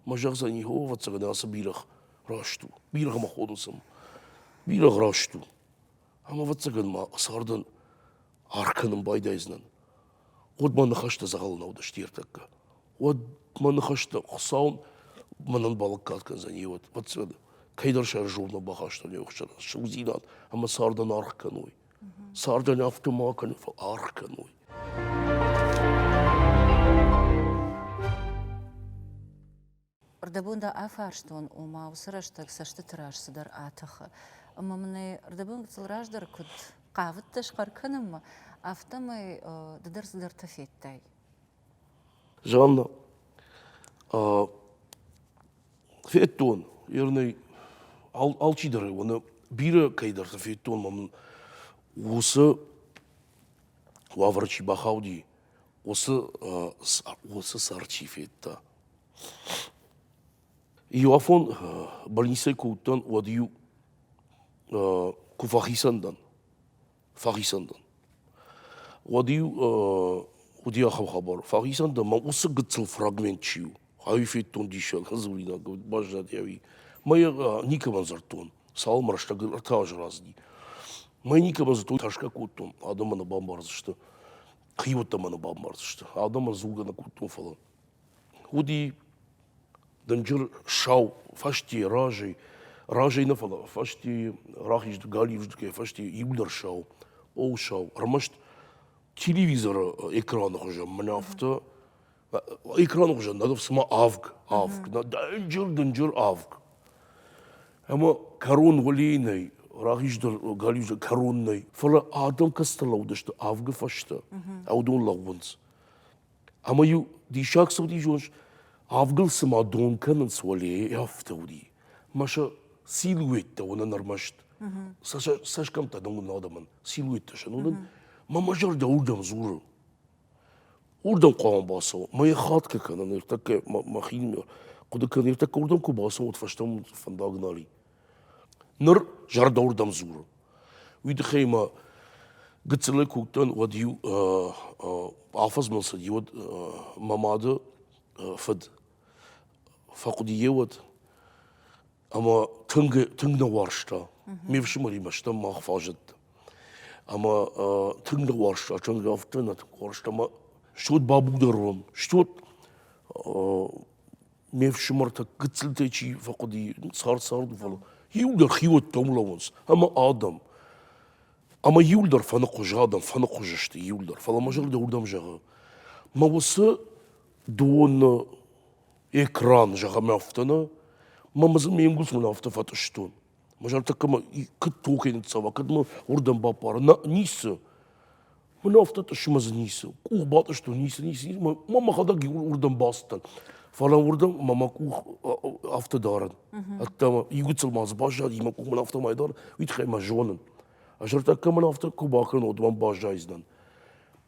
Мӕ зӕгъдзӕни, о, ӕвӕццӕгӕн ацы бирӕгъ раст у, бирӕгъмӕ хонынц ӕм, бирӕгъ раст у. Ӕмӕ ӕвӕццӕгӕн ма цардӕн аргъ кӕнын байдайдзынӕн. уӕд мӕ ныхӕстӕ дзӕгъӕл нӕ уыдысты ӕртӕккӕ. Уӕд мӕ ныхӕстӕ Хуыцау мӕнӕн балӕггад кӕндзӕни, уӕд ӕвӕццӕгӕн кӕйдӕр сӕ журнал бахастон йӕ хсӕн ӕхсызгдзинад ӕмӕ цардӕн аргъ кӕной. Цардӕн афтӕ ма кӕнын, фӕлӕ аргъ кӕной.
Рдӕбон дӕ афарстон, ома уыцы рӕстӕг цӕстыты раз цыдӕр атӕхы, ӕмӕ мын ӕй рдӕбон гыццыл раздӕр куыд хъавыдтӕ схъӕр кӕнынмӕ, афтӕмӕй ды дӕр цыдӕртӕ федтай.
Жанна, федтон ернӕй алчидӕры, уӕнӕ бирӕ кӕйдӕрты федтон мӕм уыцы уавӕр чи бахауди, уыцы уыцы сӕр чи федта. Иоафон больницӕй куы уыдтӕн, уӕд-иу куы фӕхицӕн дӕн, фӕхицӕн дӕн, уӕд-иу уыди ахӕм хабар, фӕхицӕн дӕн, мӕ уыцы гыццыл фрагмент чи у, ӕви федтон диссаг дзуринаг, баззади ӕви, мӕ йӕ никӕмӕн дзырдтон, цалынмӕ рӕстӕг ӕртӕ азы раздӕхти. Мӕ никӕмӕн дзырдтой, тӕрсгӕ кодтон, адӕммӕ нӕ бамбардзысты. хиуӕттӕ мӕ бамбардзысты адӕм ӕрдзугӕ нӕ кодтон фӕлӕ уыди дынджыр сау фӕстейы разӕй разӕй нӕ фӕлӕ фӕстейы рахиз галиуздыгӕй фӕстейы иугдӕр сау оу сау ӕрмӕст телевизоры экраны хуызӕн мӕнӕ афтӕ экраны хуызӕн надо цыма авг авг дынджыр дынджыр авг ӕмӕ кӕрон уылийы нӕй рахиздӕр галиузы кӕрон нӕй фӕлӕ адӕм кӕцытӕ лӕудысты авгы фӕстӕ аудон лӕууынц ӕмӕ-иу диссаг цы уыди зоныс авгыл цыма дон кӕнынц уӕлейы афтӕ уыди мӕ сӕ силуэттӕ уынын ӕрмӕст цӕсгӕмттӕ дӕн уыдон адӕмӕн силуэттӕ сӕн уынын мӕ мӕ зӕрдӕ уырдӕм дзуры Уырдӕм хъуамӕ бацӕуӕм. Ӕмӕ йӕ хатгӕ кӕнӕ ныртӕккӕ мӕхи нӕ кӕнӕ ныртӕккӕ уырдӕм куы бацӕуӕм, уӕд фӕстӕмӕ фӕндаг нал и. Ныр зӕрдӕ уырдӕм дзуры. Уый тыххӕй ма гыццылӕй куы уыдтӕн, уӕд-иу афӕдзмӕ цыди уӕд мӕ мады фыд. Фӕхъуыди йӕ уӕд. Ӕмӕ тынг тынг нӕ уарзта. Ме фсымӕримӕ стӕм мах фӕзыдтам. Ӕмӕ тынг нӕ уарзта, тынг афтӕ нӕ тынг уарзта. Ӕмӕ стут бабудӕр уӕм, стут ме фсымӕртӕ гыццылтӕй чи фӕхъуыди, цард-царды, фӕлӕ иу дӕр хиуӕттӕм лӕууынц, ӕмӕ адӕм. Ӕмӕ иуыл дӕр фӕныхъуыз, адӕм фӕныхъуыз сты иуыл дӕр. Фӕлӕ мӕ зӕрдӕ уырдӕм зӕгъы, мӕ уыцы доны экран зӕгъӕм афтӕ нӕ мӕ дзы ме нгуылдзон афтӕ фӕтъыстон мӕ зӕрдӕ кӕмӕ кӕд тохӕй ныццӕуа кӕд мӕ уырдӕм баппара нӕ ницы мын афтӕ тъыссы мӕ дзы ницы къух батъыстон ницы ницы ницы мӕ мӕхӕдӕг уырдӕм бацыдтӕн фӕлӕ уырдӕм мӕ мӕ къух афтӕ дарын ӕддӕмӕ игуыцыл ма дзы баззад и мӕ къух мын афтӕ май дарын уый тыххӕй мӕ зонын ӕз зӕрдӕ кӕмӕн афтӕ куы бакӕнон уӕд мӕм баззайдзынӕн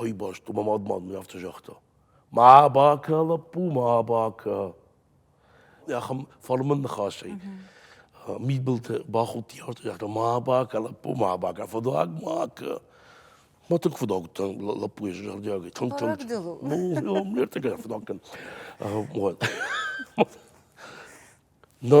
Ай бӕсты мӕ мад-мад мын афтӕ загъта: ма бакӕ, лӕппу, ма бакӕ. Ахӕм фӕлмӕн ныхасӕй мидбылты бахудти, загъта: ма бакӕ, лӕппу, ма бакӕ, фыдуаг ма кӕ. Мӕ тынг фыдуаг уыдтӕн лӕппуйы зӕрдиагӕй. Тынг-тынг. Ну,
ме ртыккаг
дӕр фыдуаг кӕн. Нӕ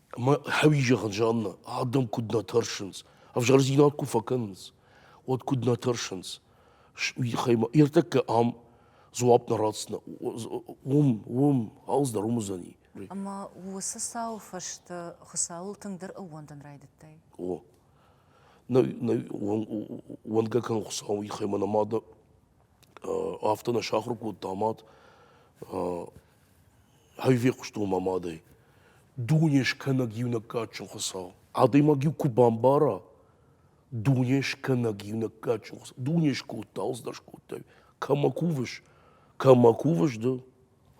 Ӕмӕ хӕуи зӕгъын Жаннӕ, ардӕм куыд нӕ тӕрсынц, ӕвзӕрдзинад куы фӕкӕнынц, уӕд куыд нӕ тӕрсынц. Уый тыххӕй мӕ ӕртӕккӕ ам дзуапп нӕ ратдзынӕ. Уым, уым, алц дӕр уым уыдзӕни. Ӕмӕ уыцы
цауы фӕстӕ Хуыцауыл тынгдӕр ӕууӕндын райдыдтай? О.
Нӕ, нӕ, уӕндгӕ кӕн Хуыцауы тыххӕй мӕ нӕ мад афтӕ нӕ сахуыр кодта мад. Ӕввехъуыстон мӕ мадӕй. Дуне скӕнӕг иунӕг кадджын Хуыцау. Адӕймаг-иу куы бамбара, дуне скӕнӕг иунӕг кадджын Хуыцау. Дуне скодта, ӕлдзтӕ скодта. Кӕмӕ кувыс, кӕмӕ кувыс ды,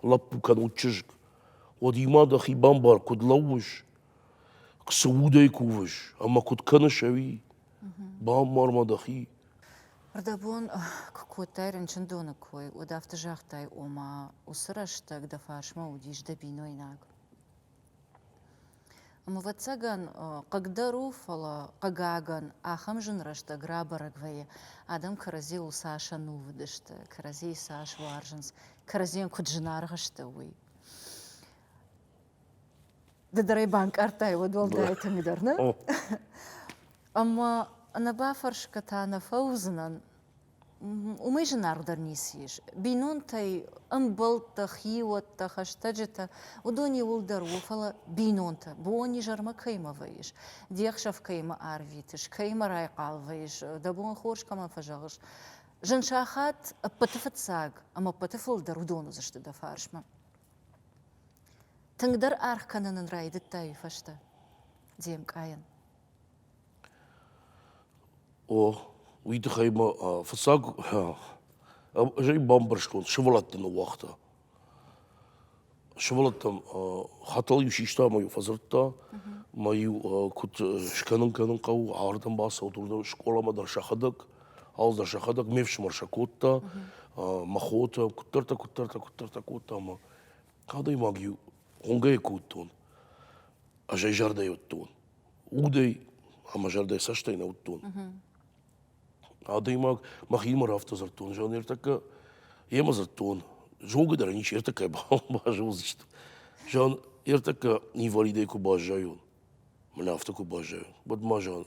лӕппу кӕнӕд чызг, уӕд-има дӕхи бамбар, куыд лӕууыс, цы удӕй кувыс ӕмӕ куыд кӕныс ӕви? Бамбар ма дӕхи. Рдӕбон
куы кодтай рынчындоны кой, уӕд афтӕ загътай, ома уыцы рӕстӕг дӕ фарсмӕ уыдис дӕ бинойнаг. Ӕвӕццӕгӕн, хъыгдӕр у, фӕлӕ, хъыгагӕн, ахӕм зын рӕстӕг рабӕрӕг вӕййы, адӕм кӕрӕдзийыл цас ӕнувыд сты, кӕрӕдзийы цас уарзынц, кӕрӕдзийӕн куыд зынаргъ сты, уый. Ды дӕр ӕй банкъардтай уӕд уӕлдай тынгдӕр, нӕ? Ӕмӕ ӕнӕбафӕрсгӕ та нӕ фӕуыдзынӕн. Уымӕй зынаргъдӕр ницы ис. Бинонтӕй ӕмбӕлттӕ, хиуӕттӕ, хӕстӕджытӕ, уыдон иуылдӕр у, фӕлӕ бинонтӕ, бон-изӕрмӕ кӕимӕ вӕййыс, де хсӕв кӕимӕ арвитыс, кӕимӕ райхъал вӕййыс, дӕ бон хорз кӕмӕн фӕзӕгъыс, зын сахат ӕппӕты фыццаг ӕмӕ ӕппӕты фылдӕр уыдон уыдзысты дӕ фарсмӕ. Тынгдӕр аргъ кӕнын ын райдыдта уый фӕстӕ Демкъайӕн.
О, уый тыххӕй ма фыццаг ӕз ӕй бамбӕрстон, сывӕлӕтты ныууагъта. Сывӕллӕттӕм хӕтӕл-иу систа ӕмӕ-иу фӕдзырдта, мӕ-иу куыд скӕнын кӕнын хъӕуы, ардӕм бацӕут, уырдӕм скъоламӕ дӕр сӕхӕдӕг, ал дӕр сӕхӕдӕг, ме фсымӕр сӕ кодта, мӕ хотӕ, куыддӕртӕ, куыддӕртӕ, куыддӕртӕ кодта ӕмӕ Адӕймаг-иу хонгӕ кодтон, ӕз ӕй зӕрдӕйы уыдтон. Удӕй ӕмӕ зӕрдӕйы цӕстӕй нӕ уыдтон. Адӕймаг мӕхимӕ афтӕ дзырдтон, зӕгъын, ныртӕккӕ йемӕ дзырдтон. Зонгӕ дӕр ӕничи ӕртӕккӕй базондзысты. Зӕгъын, ӕртӕккӕ инвалидӕй куы баззайон, мӕнӕ афтӕ куы баззайон, уӕд ма, зӕгъын,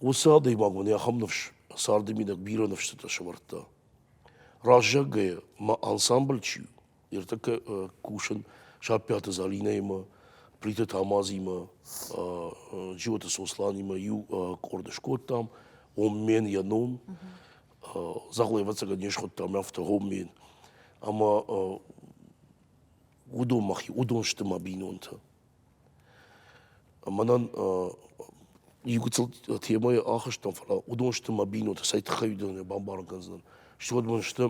Уыцы адӕймаг мын ахӕм ныфс, царды минӕг бирӕ ныфсытӕ сӕвӕрдта. Раззаггайӕ ма ансамбль чи у, ныртӕккӕ э, кусын Саппиаты Залинӕимӕ, Плиты Тамазимӕ, э, Джиоты Сосланимӕ иу э, къорд скодтам, Оммен йӕ ном. Дзагъо ӕвӕццӕгӕн не схуыдтам афтӕ Оммен. Ӕмӕ уыдон мӕхи, уыдон сты мӕ бинонтӕ. Мӕнӕн иугуыцыл темӕйы ахызтӕн, фӕлӕ уыдон сты мӕ бинонтӕ, цӕй тыххӕй уыдон мӕ бамбарын кӕндзынӕн. Стӕй уӕд мын сты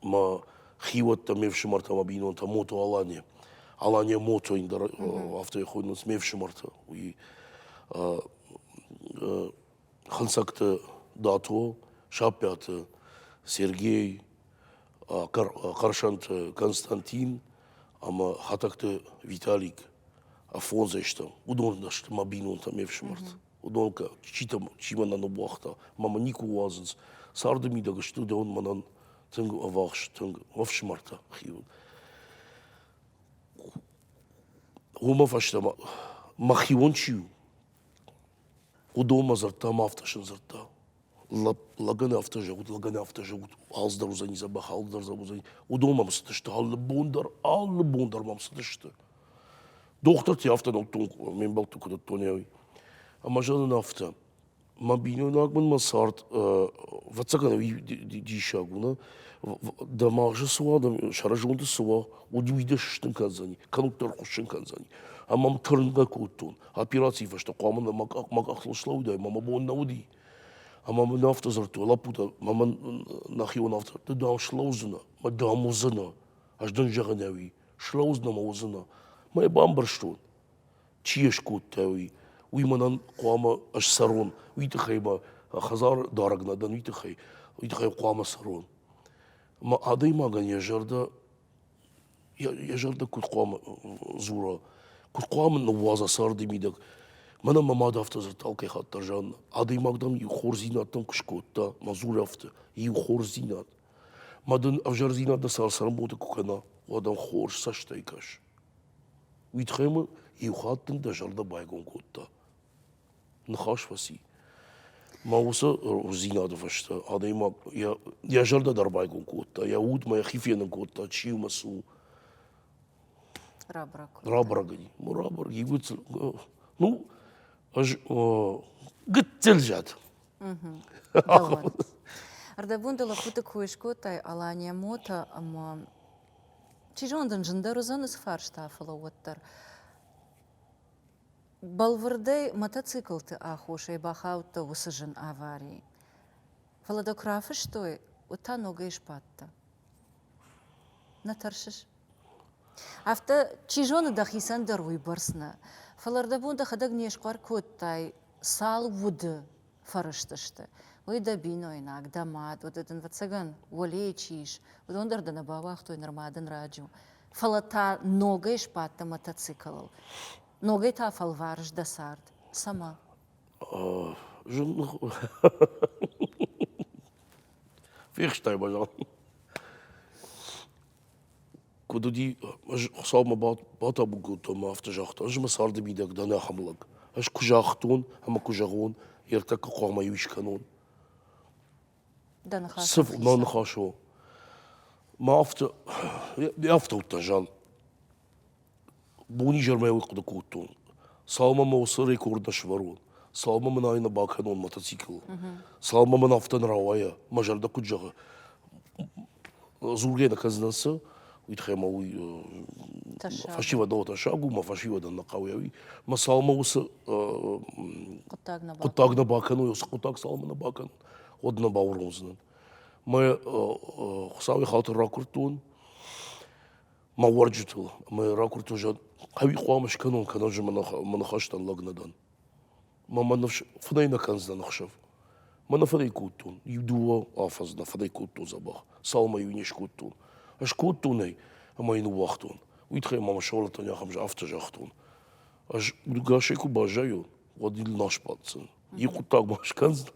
мӕ хиуӕттӕ, ме фсымӕртӕ, мӕ бинонтӕ Мото Алания. Алания Мото дӕр афтӕ хойынц ме фсымӕртӕ. Уый хынцӕгты дато саппӕты сергей хъырсанты константин ӕмӕ хӕтӕгты виталик афонзӕстӕм уыдон сты мӕ бинонтӕ ме фсымӕрт уыдон кӕ читӕ чи мӕнӕ ныууагъта мӕмӕ никуы уадзынц царды мидӕг сты уыдон мӕнӕн тынг ӕвахс тынг мӕ фсымӕртӕ хиуын уымӕ фӕстӕ мӕ хион чи у Уыдонмӕ дзырдта ӕмӕ афтӕ сын дзырдта. Лӕг, лӕгӕн афтӕ зӕгъут, лӕгӕн афтӕ зӕгъут, алцыдӕр уыдзӕни, дзӕбӕх алцыдӕр уыдзӕни. Уыдон мӕм цыдысты, алы бон дӕр, алы бон дӕр мӕм цыдысты. Дохтыртӕ афтӕ нӕдтон, ме мбӕлтты куы дӕттонӕуи. Ӕмӕ зӕгъын афтӕ, мӕ бинойнаг мын мӕ цард, ӕвӕццӕгӕн ӕви диссаг у, нӕ? Дӕ магъзы цы уа, дӕ сӕрызонды цы уа, уӕд уый дӕ сыстын кӕндзӕни, кӕннод дӕр ӕрхуыссын кӕндзӕни. Ӕмӕ мӕм тырнгӕ кодтон. операцийы фӕстӕ хъуамӕ мӕ къӕхтыл слӕууыдаид мӕ мӕ бон нӕ уыди ӕмӕ мын афтӕ дзырдтой лӕппутӕ мӕ нӕхион ӕфтӕрдты дам слӕудзынӕ мӕ дам уыдзынӕ ӕз дын зӕгъынӕуи слӕудзынӕ мӕ уыдзынӕ мӕ йӕ бамбӕрстон чи йӕ скодтауи уый мӕнӕн хъуамӕ ссарон уый тыххӕй мӕ хӕдзар дарӕг нӕ дӕн уый тыххӕй уый тыххӕй хъуамӕ ссарон мӕ адӕймагӕн йӕ зӕрдӕ йӕ зӕрдӕ куыд хъуамӕ дзура, куыд хъуамӕ ныууадза царды мидӕг. Мӕнӕ мӕ мад афтӕ дзырдта алкӕй хаттдӕр, Жанна. Адӕймаг дӕм иу хорздзинӕдтӕм куы скодта, мӕ дзурӕфты, иу хорздзинад. Ма дын ӕвзӕрдзинад дӕ царцӕрӕнбонты куы кӕна, уӕд ӕм хорз цӕстӕй кӕс. Уый тыххӕй мын иу хатт дын дӕ зӕрдӕ байгом кодта. ныхас фӕци. Мӕ уыцы рухсдзинады фӕстӕ адӕймаг йӕ, йӕ зӕрдӕ дӕр байгом кодта, йӕ удмӕ йӕхи фенын кодта, чи у мӕ цы у. Рабырӕг. Рабырӕг ӕй. Рабырӕг. Ивгъуыд. Ну, ӕз гыццыл зад.
Ӕрдӕбон дӕ лӕппуты кой скодтай Алания Мота ӕмӕ чи зоны дын зындӕр уыдзӕн уыцы фарста, фӕлӕ уӕддӕр. Бӕлвырдӕй мотоциклты аххосӕй бахаудта уыцы зын авари, фӕлӕ дӕ куы рафыстой, уӕд та ногӕй сбадтӕ. Нӕ тӕрсыс? Афтӕ, чи зоны, дӕхицӕн дӕр уыйбӕрц нӕ, фӕлӕ ӕрдӕбон дӕхӕдӕг не схъӕр кодтай, цал уды, фӕрызтысты, уый дӕ бинойнаг, дӕ мад, уыд дын, ӕвӕццӕгӕн, уӕлейы чи ис, уыдон дӕр дӕ нӕ бауагътой нырма дын раджу, фӕлӕ та ногӕй сбадтӕ мотоциклыл. Ногӕй та фӕлварыс дӕ цард. Цӕмӕ? Зынлых у.
Фехстай, пожалуйста. Куыд уыди, ӕз Хуыцаумӕ батабу кодтон ӕмӕ афтӕ загътон, ӕз мӕ царды мидӕг дӕн ахӕм лӕг. Ӕз куы загътон ӕмӕ куы зӕгъон, йе ртӕккӕ хъуамӕ иу скӕнон.
Дӕ ныхас Цы мӕ ныхас у?
Мӕ афтӕ, йе афтӕ уыдтӕн, Жан. Бонизӕрмӕ уый хъуыды кодтон, цалынмӕ мӕ уыцы рекорд нӕ сӕвӕрон, цалынмӕ мын ӕй нӕ бакӕнон мотоцикл, цалынмӕ мын афтӕ нӕ рауайа, мӕ зӕрдӕ куыд зӕгъы, дзургӕ нӕ кӕндзынӕн цы, уый тыххӕй мӕ уый фӕсивӕд ӕмӕ тӕссаг у, мӕ фӕсивӕдӕн нӕ хъӕуы уый. Мӕ цалынмӕ уыцы хъуыддаг нӕ бакӕной, уыцы хъуыддаг цалынмӕ нӕ бакӕнон, уӕд нӕ бауромдзынӕн. Мӕ Хуыцауӕй хатыр ракуырдтон, мӕ уӕрджытыл ӕмӕ ракуырдтон зӕгъ ӕви хъуамӕ скӕнон кӕнӕ мӕ ныхӕстӕн лӕг нӕ дӕн мӕ мӕ ныфс фынӕй нӕ кӕндзынӕн ӕхсӕв мӕ нӕ фӕдӕй кодтон иу дыууӕ афӕдз нӕ фӕдӕй кодтон дзӕбӕх цалмӕ-иу не скодтон ӕз кодтон ӕй ӕмӕ йын ныууагътон уый тыххӕй ма мӕ сывӕллӕттӕн ахӕм афтӕ загътон ӕз уыдгасӕй куы баззайон уӕд ил нал сбаддзӕн йӕ хъуыддаг ма скӕндзӕн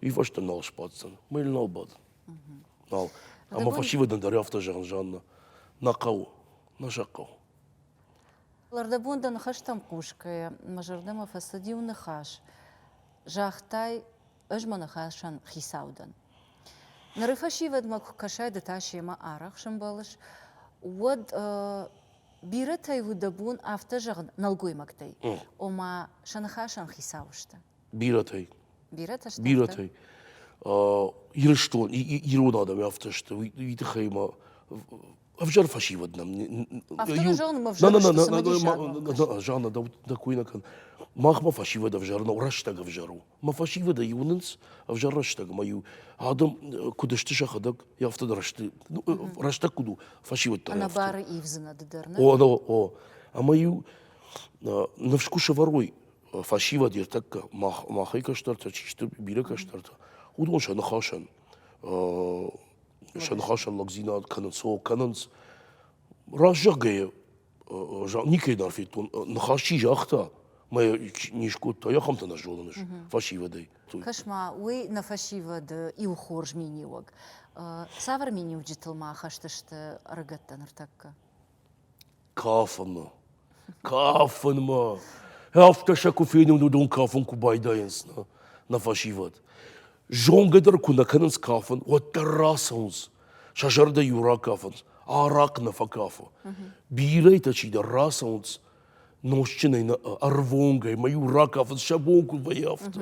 уый фӕстӕ нал сбаддзӕн мӕ ил нал бадын Нал. Ӕмӕ фӕсивӕдӕн дӕр афтӕ зӕгъын, Жанна, нӕ хъӕуы, нӕ сӕ хъӕуы.
Лӕрдӕбон дӕ ныхӕстӕм хъусгӕйӕ мӕ зӕрдӕмӕ фӕцыд иу ныхас. Загътай, ӕз мӕ ныхасӕн хицау дӕн. Ныры фӕсивӕдмӕ куы кӕсай ды та семӕ арӕх сӕмбӕлыс, уӕд бирӕтӕй у дӕ бон афтӕ зӕгъын нӕлгоймӕгтӕй, ома сӕ ныхасӕн хицау сты. бирӕтӕй. Бирӕтӕ сты?
Бирӕтӕй. Ирыстон, ирон адӕм афтӕ сты, уый тыххӕй мӕ ӕвзӕр фӕсивӕд нӕм.
Афтӕ зонын, ӕвзӕр Жанна,
дӕ кой нӕ кӕн. Махмӕ фӕсивӕд ӕвзӕр нӕу, рӕстӕг ӕвзӕр у. Мӕ фӕсивӕдӕй уынынц ӕвзӕр рӕстӕг, ӕмӕ иу адӕм куыд сты сӕхӕдӕг, афтӕ дӕр сты. Ну, рӕстӕг куыд у, фӕсивӕд дӕр. Ӕнӕбары
ивдзынад дӕр, нӕ? О, о, о.
Ӕмӕ иу ныфс куы сӕвӕрой, фӕсивӕд ертӕккӕ махӕй кӕстӕртӕ чи сты, бирӕ кӕстӕртӕ, уыдон сӕ ныхасӕн сӕ ныхасӕн лӕгдзинад кӕнынц, о, кӕнынц. Раст зӕгъгӕйӕ, никӕй дӕр федтон, ныхас чи загъта, мӕ не скодта, ахӕмтӕ нӕ зонын ис фӕсивӕдӕй. Кӕс-ма, уый
нӕ фӕсивӕды иу хорз миниуӕг. Цавӕр миниуджытыл ма хӕст сты ӕрыгӕттӕ ныртӕккӕ? Кафынмӕ.
Кафынмӕ. Афтӕ сӕ куы фенон, уыдон кафын куы байдайынц нӕ, нӕ фӕсивӕд. Зонгӕ дӕр куы нӕ кӕнынц кафын, уӕддӕр рацӕуынц. Сӕ зӕрдӕ-иу ракафынц, арахъ нӕ фӕкафы. Бирӕтӕ чидӕр рацӕуынц нозтджынӕй, нӕ ӕрвонгӕй, мӕ-иу ракафынц, сӕ бон куы вӕййы афтӕ.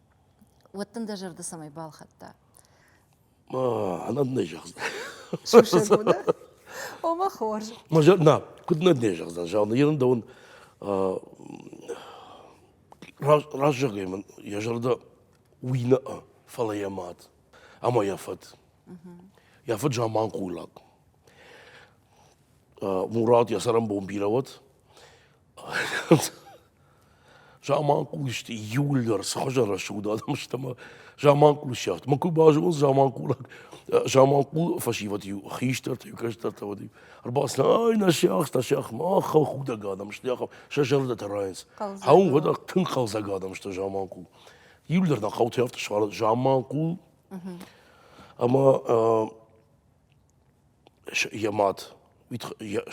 уӕд дын дӕ зӕрды цӕмӕй балхӕдта
нӕ зӕгъдзӕн
ома хорз на куыд
нӕ не зӕгъдзӕн зӕгъын ерын дӕуын раст зӕгъгӕй мын йӕ зӕрдӕ уый нӕ фӕлӕ йӕ мад ӕмӕ йӕ фыд йӕ фыд заманхъулаг мурат йӕ цӕрӕнбон бирӕ уӕд Заманхъулысты июль дӕр цы хуызӕн рӕсугъд адӕм сты ӕмӕ заманхъул сӕфт. Мӕ куы базонон заманхъулаг заманхъул фӕсивӕд-иу хистӕртӕ-иу кӕстӕртӕ уыд-иу ӕрбацыдысты, ай нӕ сиахс, нӕ сиахс, мах худӕг адӕм сты, ахӕм сӕ зӕрдӕтӕ райынц. Ау, уӕдӕ тынг хъӕлдзӕг адӕм сты заманхъул. Июль дӕр нӕ хъӕуты хъӕуты суарыд заманхъул. Ӕмӕ йӕ мад.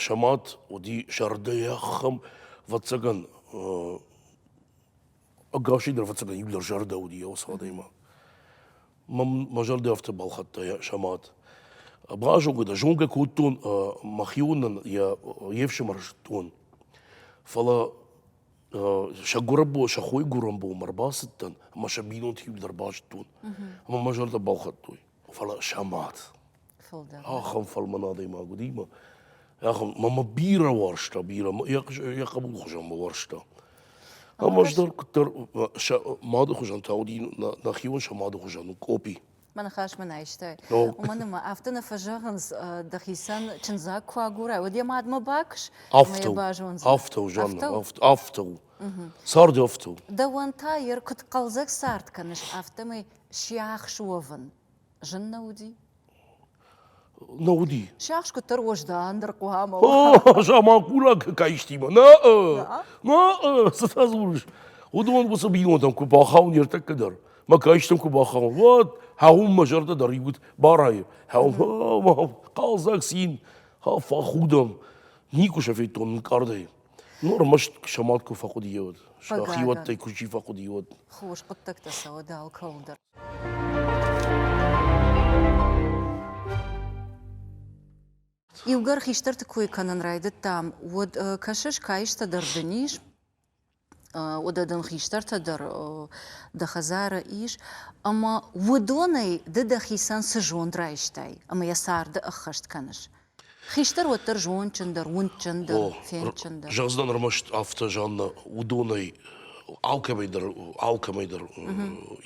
Сӕ мад уыди зӕрдӕхӕм ӕвӕццӕгӕн ӕгасӕй дӕр ӕвӕццӕгӕн иууылдӕр зӕрдӕ уыди йӕ уыцы адӕмы. Мӕ зӕрдӕ афтӕ балхӕдта сӕ мад. Базонгӕ дӕ, зонгӕ кодтон мӕхионӕн йӕ ефсымӕр зыдтон. Фӕлӕ сӕ гуырӕнбон, сӕ хойгуырӕнбонмӕ ӕрбацыдтӕн ӕмӕ сӕ бинонты иууылдӕр базыдтон. Ӕмӕ мӕ зӕрдӕ балхӕдтой. фӕлӕ сӕ мӕт. Фылдӕр. Ахӕм фӕлмӕн адӕймаг уыди мӕ ахӕм мӕ бирӕ уарзта, бирӕ йӕ хъӕбул хуызӕн мӕ уарзта. Ам ӕз дӕр куыддӕр сӕ мады хуызӕн та уыди нӕхион сӕ мады хуызӕн у Къопи. Мӕ ныхас мын
айстай. Уымӕн ӕмӕ афтӕ нӕ фӕзӕгъынц, дӕхицӕн чындзаг куы агурай, уӕд йӕ мадмӕ бакуыс, ӕмӕ йӕ базондзӕн.
Афтӕ у, Жанна, афтӕ у. Цард афтӕ у. Дӕуӕн та йӕ
куыд хъӕлдзӕг цард кӕныс, афтӕмӕй Сиахс уӕвын зын нӕ уыди?
Нӕ уыди. Сиахс куыддӕр уӕздан
дӕр хъуамӕ уа. Заманхъулаг
каистимӕ. Нӕ, нӕ, цытӕ дзурыс? Уыдон уыцы бинонтӕм куы бахауын ныртӕккӕ дӕр, мӕ каистӕм куы бахауын, уӕд хӕъуын мӕ зӕрдӕ дӕр иуд барайы. Хӕъум, хъӕлдзӕг цин, фӕхудӕм. Никуы сӕ федтон нынкъардӕй. Ну, ӕрмӕст самад куы фӕхъуыдыйӕ уыд. Хиуӕттӕй куы чи фӕхъуыдыйӕ уыд. Хорз хъуыддӕгтӕ
сӕ уыд алкӕуыл дӕр. Иугӕр хистӕрты кой кӕнын райдыдтам, уӕд кӕсыс, каистӕ дӕр дын ис, уӕдӕ дын хистӕртӕ дӕр дӕ хӕдзары ис, ӕмӕ уыдонӕй ды дӕхицӕн цы зонд райстай ӕмӕ йӕ царды ӕххӕст кӕныс, Хистӕр уӕддӕр зондджындӕр, уындджындӕр, фендджындӕр. Зӕгъдзынӕн ӕрмӕст афтӕ,
Жанна, уыдонӕй алкӕмӕй дӕр, алкӕмӕй дӕр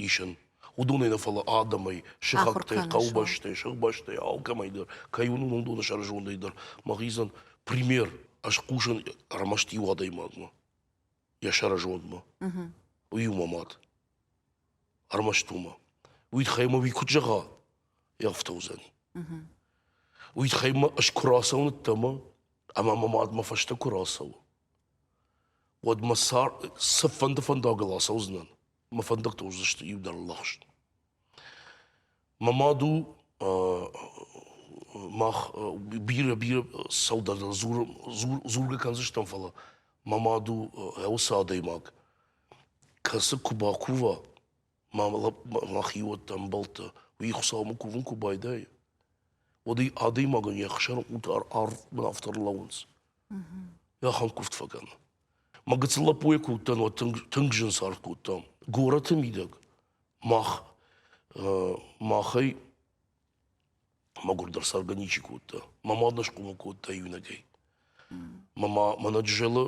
исӕн. Уыдонӕй нӕ фӕлӕ адӕмӕй, сыхӕгтӕй, хъӕубӕстӕй, сыхбӕстӕй, алкӕмӕй дӕр, кӕй уыны, уыдоны сӕрызондӕй дӕр мӕ хъизӕн пример, ӕз хъусын ӕрмӕст иу адӕймагмӕ. йӕ сӕрызондмӕ. Уый у мӕ мад. Ӕрмӕст уымӕ. Уый тыххӕй мӕ уый куыд зӕгъа, йе рфтӕ уыдзӕни. Уый тыххӕй мӕ ӕз куы рацӕуыныдтӕ ӕмӕ ӕмӕ мӕ мад мӕ фӕстӕ куы рацӕуы, уӕд мӕ цар цыфӕнды фӕндагыл ацӕудзынӕн. мӕ фӕндӕгтӕ уыдзысты иудӕр лӕгъз. Мӕ мад у мах бирӕ бирӕ сӕудӕгдӕр дзургӕ кӕндзыстӕм, фӕлӕ мӕ мад у гъӕуцы адӕймаг, кӕцы куы бакува мӕ мӕ хиуӕттӕ, ӕмбӕлттӕ, уый Хуыцаумӕ кувын куы байдайы, уӕд ӕй адӕймагӕн йӕ хсӕн ӕрф бынафтӕ ӕрлӕууынц. Ахӕлкъуывд фӕкӕн. Мӕ гыццыл лӕппуйы куы уыдтӕн, уӕд тынг, тынг зын цард кодтам. Горӕты мидӕг мах, махӕй мӕгуырдӕр цӕргӕ ничи кодта. Мӕ мад нӕ схъомыл кодта иунӕгӕй. Мӕ ма мӕнӕ Джызӕлы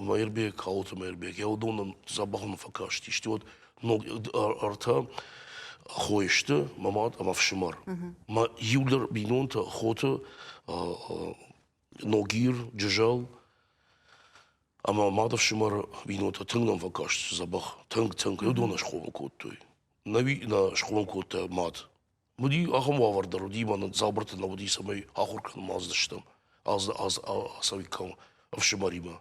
Маирбег, Калоты Маирбег, йӕ уыдонӕн дзӕбӕх нӕ фӕкастис. Стӕй уӕд ног ӕртӕ хой сты мӕ мад ӕмӕ фсымӕр. Мӕ иу дӕр бинонтӕ хоты Ногир, Джызӕл ӕмӕ мады фсымӕры бинонтӕ тынг нӕм фӕкастысты дзӕбӕх. Тынг, тынг уыдон схъомыл кодтой. Науи нӕ схъомыл кодта мад. Уыди ахӕм уавӕр дӕр уыди, мӕнӕн Дзабырты нӕ уыди, цӕмӕй ахуыр кӕнын аздыстӕм аз аз ацӕуиккам ӕфсымӕримӕ.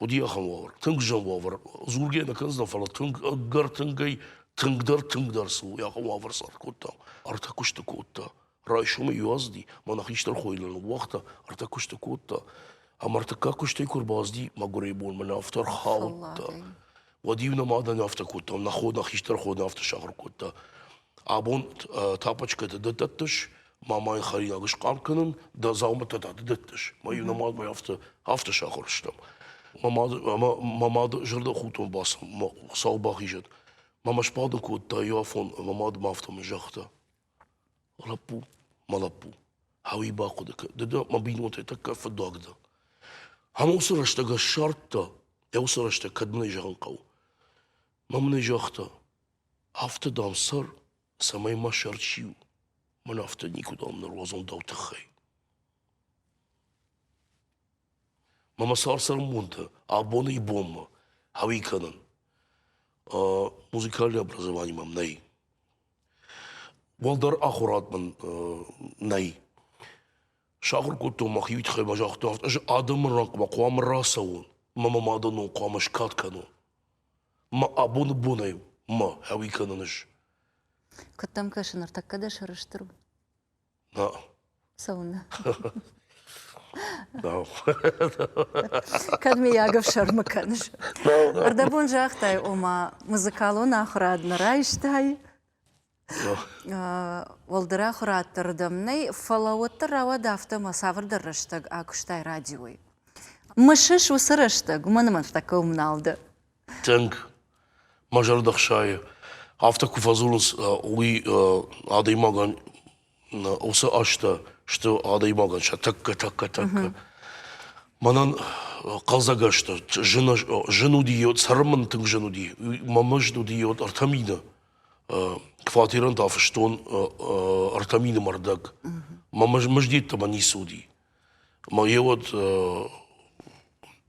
Уыди ахӕм уавӕр. Тынг зын уавӕр. Дзургӕ нӕ кӕндзынӕн, фӕлӕ тынг ӕгӕр тынгӕй тынгдӕр тынгдӕр цы ахӕм уавӕр цард кодтам, ӕртӕ куысты кодта. Райсомӕй иуазди, мӕнӕ хистӕр хойыл ныууагъта, ӕртӕ куысты кодта. Ӕмӕ ӕртыккаг куыстӕй куы ӕрбацыди мӕгуырӕй бон мӕнӕ афтӕ ӕрхаудта. Уӕд-иу нӕ мадӕн афтӕ кодтам, нӕ хо, нӕ хистӕр хо афтӕ сахуыр кодта. Абон тапочкӕтӕ ды дӕттыс, мамайы хӕринаг схъӕр кӕнын, дӕ дзаумӕттӕ та ды дӕттыс. Мӕ-иу нӕ мадмӕ афтӕ, афтӕ сахуыр стӕм. Мӕ мад, мӕ мады зӕрдӕхудтон бацыд, сау бахизӕд. Мӕ мӕ сбады кодта иу афон, мӕ мад ма афтӕ мын загъта. Лӕппу, мӕ лӕппу, ауи бахъуыды кӕн, ды дӕ мӕ бинонтӕй тӕккӕ фыддуаг дӕ. Ам уыцы рӕстӕг ӕз ссардта, йӕ уыцы рӕстӕг кӕд мын ӕй зӕгъын хъӕуы. Мӕ мын ӕй загъта, афтӕ, дам, цӕр, цӕмӕй мӕ сӕр чи у, мӕн афтӕ никуыдӕм ныруадзон дӕу тыххӕй. Мӕ мӕ сӕрсӕрмонтӕ абоны ибонмӕ ауи кӕнын. музыкальное образование мӕм нӕй. Уӕлдӕр ахуырад мын нӕй. Сахуыр кодтон мӕхи уый тыххӕй мӕ загътой афтӕ, ӕз адӕмы рангмӕ хъуамӕ рацӕуон мӕ мӕ мадӕнон хъуамӕ скад кӕнон. Мӕ абоны бонӕй мӕ хауи кӕнын ис.
Куыд дӕм кӕсы, ныртӕккӕ дӕ сӕрыстыр у?
Да. Цӕуылнӕ? Нау.
Кӕд мыййаг ӕфсӕрмы кӕныс? Ӕрдӕбон загътай, ома музыкалон ахуырад нӕ райстай, уӕлдӕр ахуырадты рдӕм нӕй, фӕлӕ уӕддӕр рауад афтӕ ӕмӕ цавӕрдӕр рӕстӕг акуыстай радиойы. Мысыс уыцы рӕстӕг, уымӕн ӕмӕ тӕккӕ уым нал дӕ. Тынг
мӕ зӕрдӕ хсайы, афтӕ куы фӕдзурынц, уый адӕймагӕн уыцы азтӕ сты адӕймагӕн сӕ тӕккӕ, тӕккӕ, тӕккӕ. Мӕнӕн хъӕлдзӕгӕс дӕр, зын, зын уыди, цӕрын тынг зын уыди. Мӕ мызд уыди ӕртӕ мины. Квартирӕн та фыстон ӕртӕ мины мӕрдӕг. Мӕ мызд йеддӕмӕ ницы уыди. Мӕ йе уӕд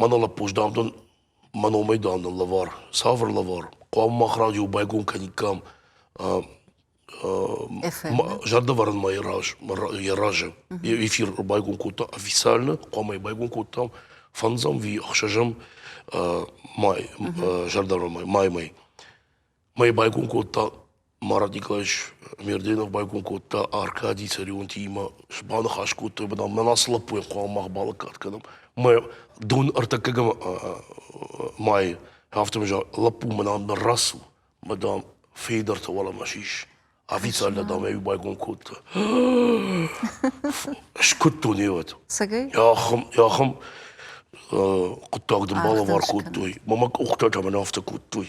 Мӕнӕ лӕппуз, дам, дын мӕ номӕй, дам, дын лӕвар, цавӕр лӕвар? Хъуамӕ мах радио байгом кӕниккам зӕрдӕвӕрынмӕ йӕ раз йӕ разы эфир байгом кодта официально, хъуамӕ йӕ байгом кодтам фӕндзӕм ӕви ӕхсӕзӕм май, зӕрдӕвӕрынмӕ, маймӕ. Мӕ байгон кодта Марат Николаевич Мерденов, байгон кодта Аркади Царионти имӕ баныхас кодтой, бынам мӕн ацы лӕппуйӕн хъуамӕ мах балӕггад кӕнӕм. Мӕ дон ӕртӕккӕгӕм майы афтӕ лӕппу мӕнӕн мӕ рацу, мӕ дам, фейдӕртӕ уӕлӕмӕ сис. Официально, дам, ӕй байгон кодта. Скуыдтон ewӕд. Цӕгӕй? Ахӕм,
ахӕм
хъуыддаг дын балӕвар кодтой. Мӕ къухтӕ та мӕн афтӕ кодтой.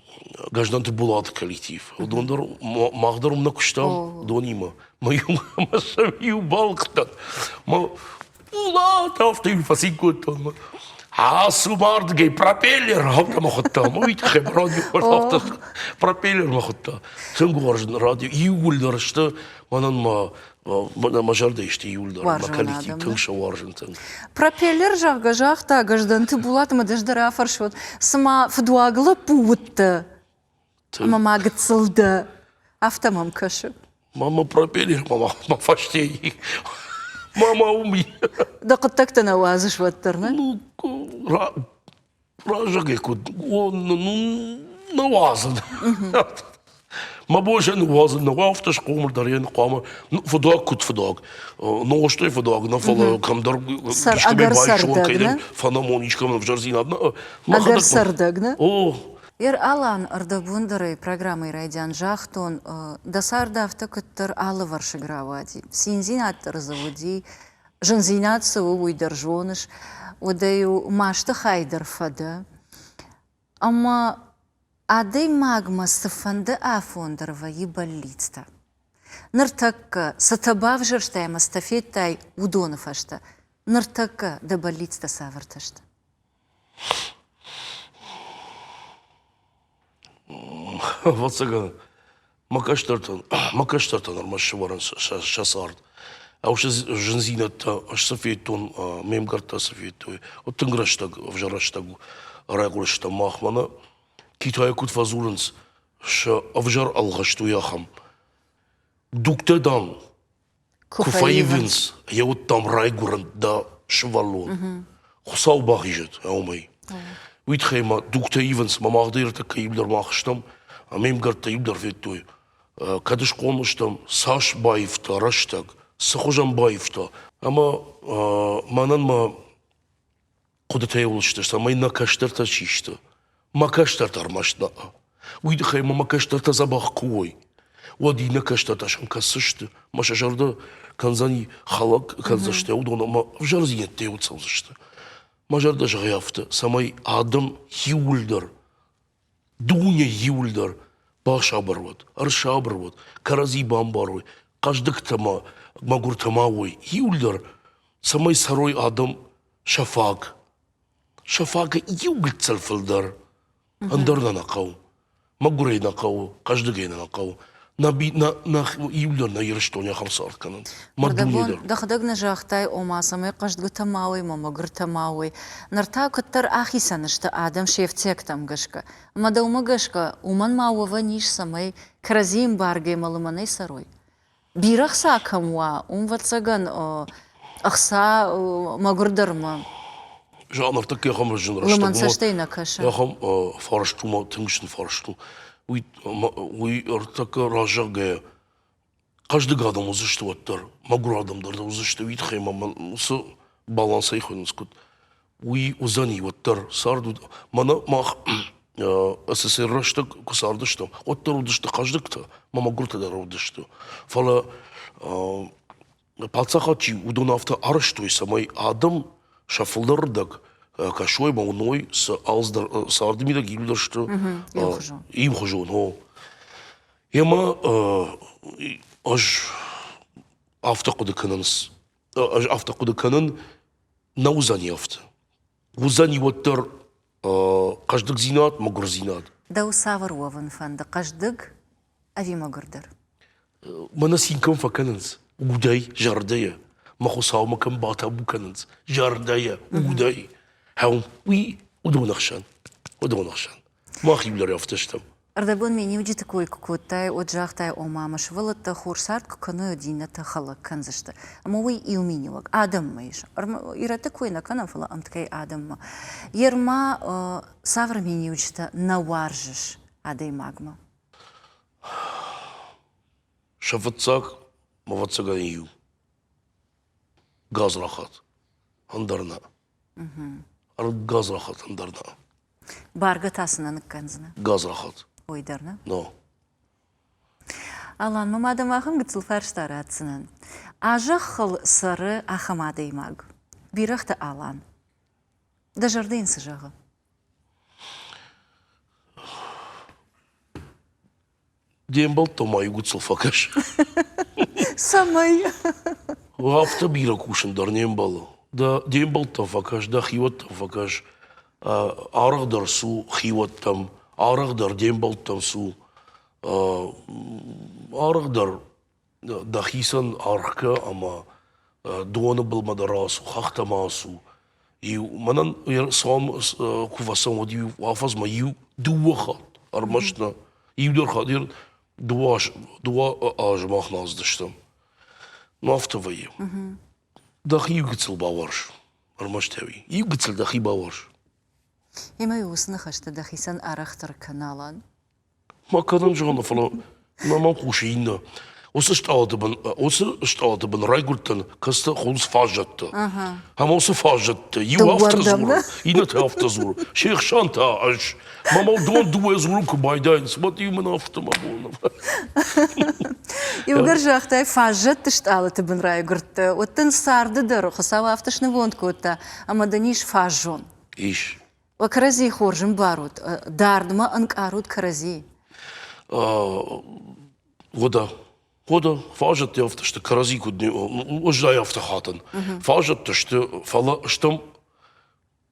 Гражданты Булаты коллектив. Уыдон дӕр мах дӕр уым нӕ куыстам донимӕ. Мӕ иу мӕ сӕм иу балхъдта. Мӕ Булат афтӕ иу фӕцин кодтон. Мӕ Ацу бардгай пропеллер афтӕ хуыдта. Уый тыххӕй радио афтӕ пропеллер хуыдта. Тынг уарзын радио. Иууылдӕр сты мӕнӕн мӕ Мӕнӕ мӕ зӕрдӕ исты иуылдӕр мӕ коллектив тынг сауарзын тынг. Пропеллер, зӕгъгӕ,
загъта Гӕздӕнты Булат ӕмӕ ды дӕр афӕрсут, цыма фыдуаг лӕппу уыдтӕ ӕмӕ ма гыццыл дӕ, афтӕ мӕм кӕсы. Мама пропеллер,
мама, мама фӕстейы. Мама уым и. Дӕ хъуыддӕгтӕ
нӕ уадзыс уӕддӕр, нӕ? Ну,
Зӕгъи, куд нуазӕн. Мӕ босӕ ныуадзын нӕ уафтӕ схъомыл дӕр йӕ хъуамӕ фыдуаг куыд фыдуаг, нозтӕй фыдуаг, нӕ фӕлӕ кӕмдӕр искӕмӕй байсон
кӕйдӕр фӕнамон искӕмӕн
ӕвзӕрдзинад нӕ. Ӕгӕр
цӕрдӕг, нӕ? О!
Ер-Алан
ӕрдӕбундӕрӕй программӕйы райдиан загътон, дӕ цард афтӕ куыддӕр алывӕрсыг рауади, циндзинад дӕр дзы уыди, Зындзинад цы у, уый дӕр зоныс, удӕй-иу масты хай дӕр фӕдӕ. Ӕмӕ адӕймагмӕ цыфӕнды афон дӕр вӕййы бӕллицтӕ. Ныртӕккӕ цытӕ бавзӕрстай ӕмӕ цытӕ федтай, уыдоны фӕстӕ ныртӕккӕ дӕ бӕллицтӕ цавӕртӕ сты?
Ӕвӕццӕгӕн, мӕ кӕстӕртӕн, мӕ кӕстӕртӕн ӕрмӕст сывӕрын сӕ сӕ цард. Ау, сӕ зындзинӕдтӕ ӕз цы федтон, ме мгӕрттӕ цы федтой, уӕд тынг рӕстӕг, ӕвзӕр рӕстӕг райхъуыры стӕм махмӕ нӕ. Китайы куыд фӕдзурынц, сӕ ӕвзӕр ӕлгъыст уый ахӕм. Дугтӕ, дам, Куы фӕивынц, йӕ уыдтам райгуырын дӕ сывӕллон. Хуыцау бахизӕд уымӕй. Уый тыххӕй ма дугтӕ ивынц, мӕ мах дӕр тыххӕй иудӕр мах стӕм, ӕмӕ ме мгӕрттӕ иудӕр федтой. Ӕ, Кӕд схъомыл стӕм, цас баивта рӕстӕг, цы хуызӕн баивта. Ӕмӕ ӕ, мӕнӕн мӕ Хъуыдытӕ йыл сты, цӕмӕй нӕ кӕстӕртӕ чи сты. Мӕ кӕстӕртӕ ӕрмӕст нӕ. Уый тыххӕй мӕ мӕ кӕстӕртӕ дзӕбӕх куы уой, уӕд иннӕ кӕстӕртӕ сӕм кӕсдзысты, мӕ сӕ зӕрдӕ кӕндзӕни хӕлӕг кӕндзысты уыдон ӕмӕ ӕвзӕрдзинӕдтӕ йыл цӕудзысты. Мӕ зӕрдӕ зӕгъы афтӕ, цӕмӕй адӕм иууылдӕр Дыууӕ иуылдӕр басабыр уӕд, ӕрсабыр уӕд, кӕрӕдзи бамбарой, хъӕздыгтӕ ма, мӕгуыртӕ ма уой, иуылдӕр, цӕмӕй цӕрой адӕм сӕ фаг. сӕ фагы иу гыццыл фылдӕр, ӕндӕр нӕ нӕ хъӕуы. Мӕгуырӕй нӕ хъӕуы, хъӕздыгӕй нӕ нӕ хъӕуы. иу дӕр нӕ Ирыстони ахӕм цард кӕнӕд. Дӕхӕдӕг
нӕ загътай, ома, цӕмӕй хъӕздгутӕ ма уой, ма мӕгуртӕ ма уой. Ныр та куыддӕр ахицӕн сты адӕм се фтиӕгтӕм гӕсгӕ. Ӕмӕ дӕумӕ гӕсгӕ, уымӕн ма уӕвӕн ис, цӕмӕй кӕрӕдзи эмбаргӕмӕ лымӕнӕй цӕрой? Бирӕгъ сӕ кӕм уа, уым, ӕвӕццӕгӕн, ӕхца мӕгуырдӕрмӕ
Зал ӕртыккӕ ахӕм зын рӕстӕг. Лымӕн цӕстӕй нӕ кӕсы?
Ахӕм фарст
у, мӕ тынг стыр фарст у. Уый уый ӕртыккӕ разӕггӕйӕ хъӕздыг адӕм уыдзысты уӕддӕр, мӕгуыр адӕм дӕр уыдзысты уый тыххӕй мӕ уыцы балансӕй хуыйнынц куыд уый уыдзӕни уӕддӕр цард уыд мӕнӕ мах сср рӕстӕг куы цардыстӕм уӕддӕр уыдысты хъӕздыгтӕ мӕ мӕгуыртӕ дӕр уыдысты фӕлӕ Паддзахад чи, уыдон афтӕ арӕзтой, цӕмӕй адӕм сӕ фылдӕрырдӕг кӕсой ӕмӕ уыной, цы ӕлдз дӕр, царды мидӕг иу дӕр сты иу хуызон. Емӕ ӕз афтӕ хъуыды кӕнынц, ӕз афтӕ хъуыды кӕнын, нӕ уыдзӕни афтӕ. Уыдзӕни уӕддӕр хъӕздыгдзинад, мӕгуырдзинад. Дӕу цавӕр
уӕвын фӕнды, хъӕздыг ӕви мӕгуырдӕр? Мӕнӕ
цинкӕн фӕкӕнынц, удӕй, зӕрдӕйӕ. Мӕ хуыцаумӕ кӕм батабу кӕнынц, зӕрдӕйӕ, удӕй. Хӕм, уый уыдон ӕхсӕн. Уыдон ӕхсӕн. Мах иу дӕр афтӕ стӕм. Ӕрдӕбон миниуджыты
кой куы кодтай, уӕд загътай, ома мӕ сывӕллӕттӕ хор цард куы кӕной, иннӕтӕ хӕлӕг кӕндзысты. Ӕмӕ уый иу миниуӕг адӕммӕ ис. Ирӕтты кой нӕ кӕнӕм, фӕлӕ ӕмткӕй адӕммӕ. Ерма, цавӕр миниуджытӕ нӕ уарзыс адӕймагмӕ?
Сӕ фыццаг мӕ ӕвӕццӕгӕн иу гадзрахат, ӕндӕр нӕ. Гадзрахат, ӕндӕр нӕ. Бӕргӕ
та цы нӕ ныккӕндзынӕ? Гадзрахат.
Ой дӕр нӕ? Но.
Алан, мӕ мадӕн ахӕм гыццыл фарста ратдзынӕн. А зӕххыл цӕры ахӕм адӕймаг, Бирӕгъты Алан. Дӕ зӕрдӕ йын цы зӕгъы?
Де мбӕлттӕ ма иугуыцыл фӕкӕс. Цӕмӕй? Афтӕ бирӕ кусын дӕр не мбӕлы. Дӕ, де мбӕлттӕм фӕкӕс, дӕ хиуӕттӕм фӕкӕс. Арӕхдӕр цу хиуӕттӕм, арӕхдӕр де мбӕлттӕм цу. Арӕхдӕр дӕхицӕн аргъкӕ ӕмӕ доны былмӕ дӕр ацу, хӕхтӕ ма ацу. Иу, мӕнӕн цуам куы фӕцӕуӕм, уӕд иу афӕдзмӕ иу, дыууӕ хатт, ӕрмӕст нӕ, иу дӕр хатт, иу дыууӕ, дыууӕ азы мах нӕ ацыдыстӕм. Ну афтӕ вӕййы. Дӕхи иу гыццыл бауарз, ӕрмӕст ӕви? Иу гыццыл дӕхи бауарз. Ӕмӕ
уыцы ныхӕстӕ дӕхицӕн арӕхдӕр кӕ налӕн? Ма
кӕнӕм зӕгъӕм, фӕлӕ ма мӕм хъусы иннӕ. Уыцы стъалыты бын, уыцы стъалыты бын райгуырдтӕн, кӕцытӕ хуылдз фаззӕтты. Ӕмӕ уыцы фаззӕтты иу афтӕ дзуры, иннӕтӕ афтӕ дзуры, се хсӕн та ӕз. Мӕ мӕ уыдон дыууӕ дзурын куы байдайынц, уӕд иу мын афтӕ мӕ боны.
Иугӕр загътай, фаззӕтты стъалыты бын райгуырдтӕ, уӕд дын царды дӕр Хуыцау афтӕ снывонд кодта, ӕмӕ дын ис фаззон. Ис.
кӕрӕдзийы
хорз ӕмбарут, дардмӕ ӕнкъарут кӕрӕдзи.
Вода. Вода. Фазӕттӕ афтӕ сты кӕрӕдзи куыд ӕз ай афтӕ хатын. Фазӕттӕ сты, фӕлӕ стӕм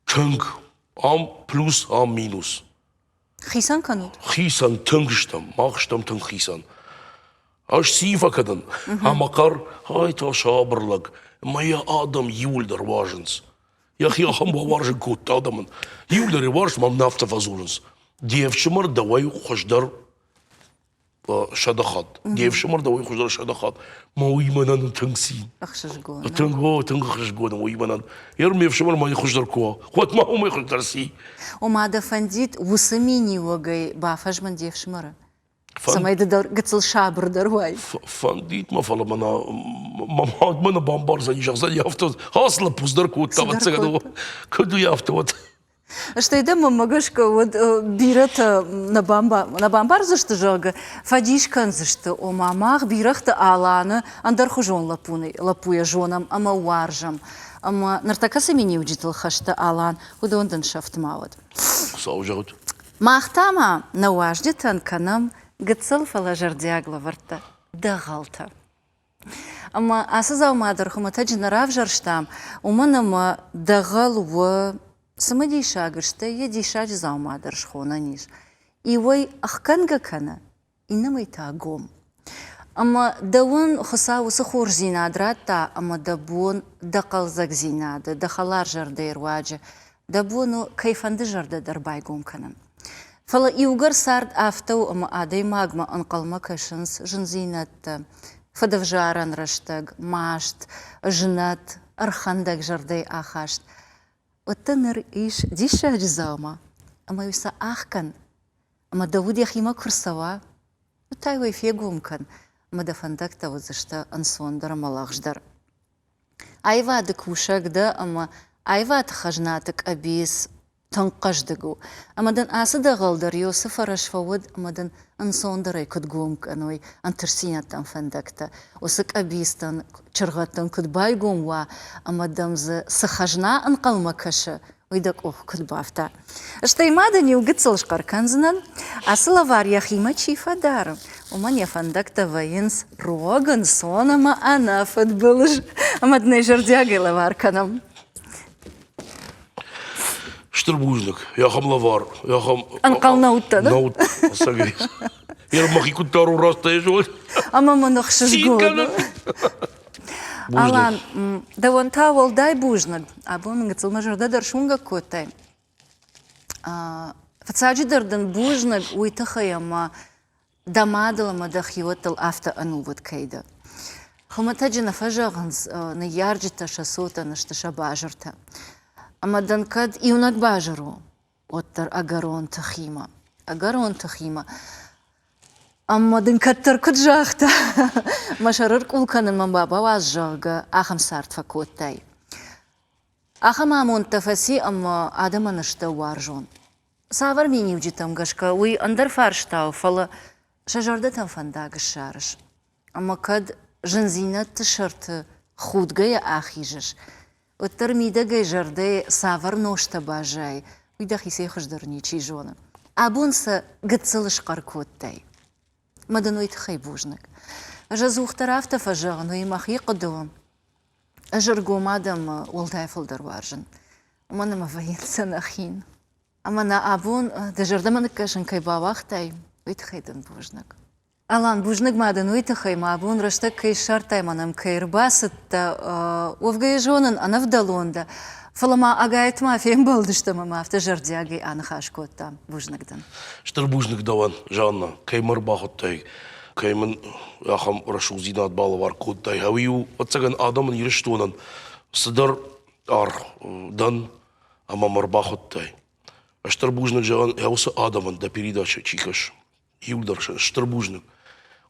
тынг, ам плюс, ам минус. Хицӕн
кӕнут? Хицӕн, тынг
стӕм, мах стӕм тынг хицӕн. Ӕз ци фӕкӕдын? Ӕмӕ хъӕр, ай та сабыр лӕг, ӕмӕ йӕ адӕм иуылдӕр уарзынц. Йӕхи ахӕм бауарзын кодта адӕмӕн. Иуылдӕр уарзт мӕм нӕ афтӕ фӕдзурынц. Де ӕфсымӕр дӕуӕй хуыздӕр сӕдыхатт. Не фсымӕр дӕ уый хуыздӕр сӕдыхатт. Мӕ уыймӕнӕн тынг цин. Ӕхсызгон. Тынг
о, тынг ӕхсызгон
у уыймӕнӕн. Ер ме фсымӕр мӕй хуыздӕр куы уа, уӕд ма уымӕй хуыздӕр ци? Ома дӕ
фӕндид уыцы миниуӕгӕй бафӕзмын де фсымӕры? Цӕмӕй ды дӕр гыццыл сабырдӕр уай. Фӕндид мӕ,
фӕлӕ мӕнӕ мадмӕ нӕ бамбардзӕни, зӕгъдзӕни афтӕ, ас лӕппу дӕр кодта, ӕвӕццӕгӕн, куыд уый афтӕ уӕд. Стӕй
дӕ мӕмӕ гӕсгӕ уӕд бирӕтӕ нӕ, бамбар, нӕ бамбардзысты, зӕгъгӕ, фӕдис кӕндзысты, ома мах бирӕгъты Аланы ӕндӕрхуызон лӕппуны, лӕппуйӕ зонӕм ӕмӕ уарзӕм. Ӕмӕ ныртӕккӕ цы миниуджытыл хӕсты Алан, уыдон дын сӕфт ма уӕд. Хуыцау зӕгъут.
Мах та
ма нӕ уазджытӕн кӕнӕм гыццыл, фӕлӕ зӕрдиаг лӕвӕрттӕ, дӕгъӕлтӕ. Ӕмӕ ацы дзаума дӕр хуымӕтӕджы нӕ равзӕрстам, уымӕн ӕмӕ дӕгъӕл у цымыдисаг, стӕй йӕ диссаджы дзаума дӕр схонӕн ис. Иуӕй ӕхгӕнгӕ кӕны, иннӕмӕй та гом. Ӕмӕ дӕуӕн Хуыцау уыцы хорздзинад радта ӕмӕ дӕ бон дӕ хъӕлдзӕгдзинады, дӕ хӕларзӕрдӕйы руаджы дӕ бон у кӕйфӕнды зӕрдӕ дӕр байгом кӕнын. Фӕлӕ иугӕр цард афтӕ у ӕмӕ адӕймагмӕ ӕнхъӕлмӕ кӕсынц зындзинӕдтӕ, фӕдӕвзарӕн рӕстӕг, маст, знӕт, ӕрхӕндӕг зӕрдӕйы ахаст, уӕддӕр ныр ис диссаджы дзаума, ӕмӕ-иу сӕ ахгӕн, ӕмӕ дӕ уд йӕхимӕ куы рцӕуа, уӕд та уӕ фегом кӕн, ӕмӕ дӕ фӕндӕгтӕ уыдзысты ӕнцондӕр ӕмӕ лӕгъздӕр. Аивады кусӕг дӕ ӕмӕ аивады хӕзнаты къӕбиц тынг хъӕздыг у. Ӕмӕ дын ацы дӕгъӕл дӕр Иосы фӕрӕз фӕуӕд ӕмӕ дын ӕнцондӕрӕй куыд гом кӕной ӕнтыстдзинӕдтӕн фӕндӕгтӕ, уыцы къӕбицтӕн, чыргъӕдтӕн куыд байгом уа ӕмӕ дӕм дзы цы хӕзна ӕнхъӕлмӕ кӕсы, уый дӕ къух куыд бафта. Стӕй ма дын иу гыццыл схъӕр кӕндзынӕн, ацы лӕвар йӕхимӕ чи фӕдары, уымӕн йӕ фӕндӕгтӕ вӕййынц рог, ӕнцон ӕмӕ ӕнӕфыдбылыз, ӕмӕ дын ӕй зӕрдиагӕй лӕвар кӕнӕм.
Стыр бузныг. Йӕхӕм лӕвар, йӕхӕм... Ӕнхъӕл нӕ уыдтӕ, да? Нӕ
уыдтӕн, ӕцӕгӕй.
Йе мӕхи куыддӕр у растӕй зон. Ӕмӕ мын
ӕхсызгон. Алан, дӕуӕн та уӕлдай бузныг. Абон мын гыццыл мӕ зӕрдӕ дӕр суынгӕг кодтай. Фыццаджыдӕр дын бузныг уый тыххӕй, ӕмӕ Дӕ мадыл ӕмӕ дӕ хиуӕттыл афтӕ ӕнувыд кӕй дӕ. Хуымӕтӕджы нӕ фӕзӕгъынц, ныййарджытӕ сӕ цотӕн сты сӕ базыртӕ. Ӕмӕ дын кӕд иунӕг базыр у, уӕддӕр ӕгӕрон тыхимӕ, ӕгӕрон тыхимӕ. Ӕмӕ дын кӕддӕр куыд загъта, мӕ сӕрыл къул кӕнынмӕ бауадз, зӕгъгӕ, ахӕм цард фӕкодтай. Ахӕм амондтӕ фӕци ӕмӕ адӕмӕн сдӕ уарзон. Цавӕр миниуджытӕм гӕсгӕ уый ӕндӕр фарстау, фӕлӕ сӕ зӕрдӕтӕм фӕндаг ссарыс? Ӕмӕ кӕд зындзинӕдты сӕрты худгӕйӕ ахизыс, уӕддӕр мидӕгӕй зӕрдӕйы цавӕр нозтӕ баззайы, уый дӕхицӕй хуыздӕр ничи зоны. Абон сӕ гыццыл схъӕр кодтай. Мӕ дын уый тыххӕй бузныг. Ӕз ӕдзухдӕр афтӕ фӕзӕгъын, уый мӕхи хъуыды у. Ӕз ӕргом адӕммӕ уӕлдай фылдӕр уарзын, уымӕн ӕмӕ вӕййынц сӕ нӕ хин. Ӕмӕ нӕ абон дӕ зӕрдӕмӕ ныккӕсын кӕй бауагътай, уый тыххӕй дын бузныг. Алан, бузныг ма дын уый тыххӕй, мӕ абон рӕстӕг кӕй ссардтай, мӕнӕм кӕй ӕрбацыдтӕ, уӕвгӕ зонын, ӕнӕвдӕлон дӕ, фӕлӕ ма ӕгайтма фембӕлдыстӕм ӕмӕ афтӕ зӕрдиагӕй аныхас кодтам. Бузныг дын. Стыр бузныг
дӕуӕн, Жанна, кӕй мӕ ӕрбахуыдтай, кӕй мын ахӕм рӕсугъддзинад балӕвар кодтай. Ӕви-иу, ӕцӕгӕн, адӕмын Ирыстонӕн цыдӕр аргъ дӕн ӕмӕ мӕ рбахуыдтай. Стыр бузныг зӕгъын йӕ уыцы адӕмӕн дӕ передачӕ чи кӕс. Иуылдӕр стыр бузныг.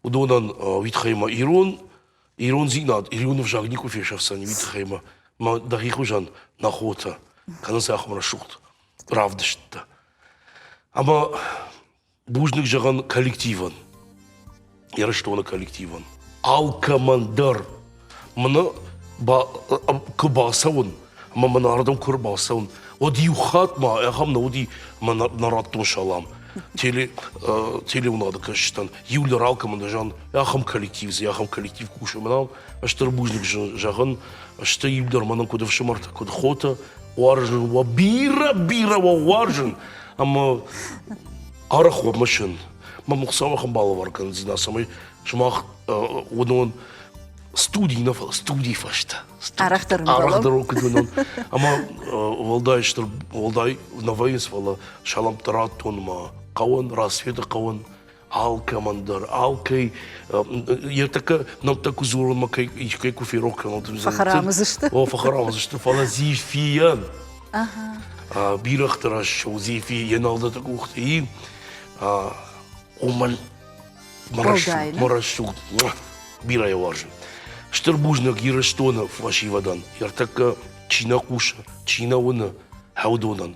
Уыдонӕн уый тыххӕй мӕ ирон ирондзинад, ироны взаг никуы фесӕфдзӕни, уый тыххӕй мӕ мӕ дӕхи хуызӕн нӕ хотӕ кӕнынц ахӕм рӕсугъд равдысттӕ. Ӕмӕ Бузныг зӕгъын коллективӕн, Ирыстоны коллективӕн. Алкӕмӕн дӕр мын куы бацӕуын ӕмӕ мын ардӕм куы ӕрбацӕуын, уӕд иу хатт ма ахӕм нӕ уыди мӕ нӕ радтон салам теле, э, телеуынады кӕсджытӕн, иу лиралкӕмӕн зӕгъын, ахӕм коллектив, цы ахӕм коллектив кусын мӕнау, стыр бузныг зӕгъын, сты иу дӕр мӕнӕн куыд ӕфсымӕртӕ, куыд хотӕ, уарзын уӕ бирӕ-бирӕ уӕ уарзын, Ӕмӕ арӕх мысын, мӕ Хуыцауы ахӕм балӕвар кӕндзынӕ, цӕмӕй сымах уыдон студий нӕ фӕлӕ студийы фӕстӕ арӕхдӕр арӕхдӕр
куыд уыдон
ӕмӕ уӕлдай стыр уӕлдай нӕ вӕййынц фӕлӕ саламтӕ радтон мӕ хъӕуӕн рассветы хъӕуӕн алкӕмӕн дӕр, алкӕй йе ртӕккӕ нӕмттӕ куы дзурынмӕ кӕй кӕй куы ферох кӕнон, фӕхӕрамыдзысты.
О, фӕхӕрамыдзысты,
фӕлӕ Зефийӕн бирӕгъты раз у Зефи йе налдаты къухты уымӕн мӕ рӕсугъд бирӕ уарзы. Стыр бузныг Ирыстоны фӕсивӕдӕн, ӕртӕккӕ чи нӕ хъусы, чи нӕ уыны, хӕудонӕн,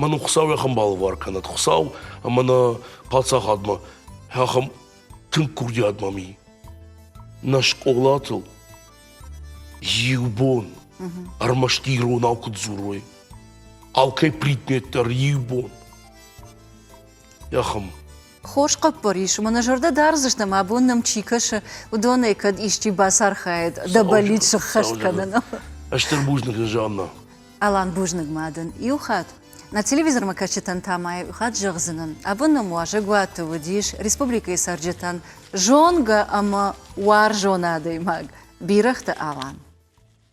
мӕн хуыцау ахӕм балвар кӕнӕд хуыцау ӕмӕ нӕ паддзахадмӕ ахӕм тынг курдиатмӕ ми нӕ скъолатыл иу бон ӕрмӕст иронау куыд дзурой алкӕй предмет дӕр иу бон йӕ хуым. Хорз хъӕппӕр
ис, мӕнӕ зӕрдӕ дардзысты, мӕ бон нӕм чи кӕсы, уыдонӕй кӕд исчи бацархайӕд дӕ бӕллиц сыххӕст кӕныныл. Стыр бузныг
дын, Жанна. Алан, бузныг
ма дын иу хатт. Нӕ телевизормӕ кӕсджытӕн та ма иу хатт зӕгъдзынӕн, абон нӕм уазӕгуаты уыдис республикӕйы цӕрджытӕн зонгӕ ӕмӕ уарзон адӕймаг Бирӕгъты Алан.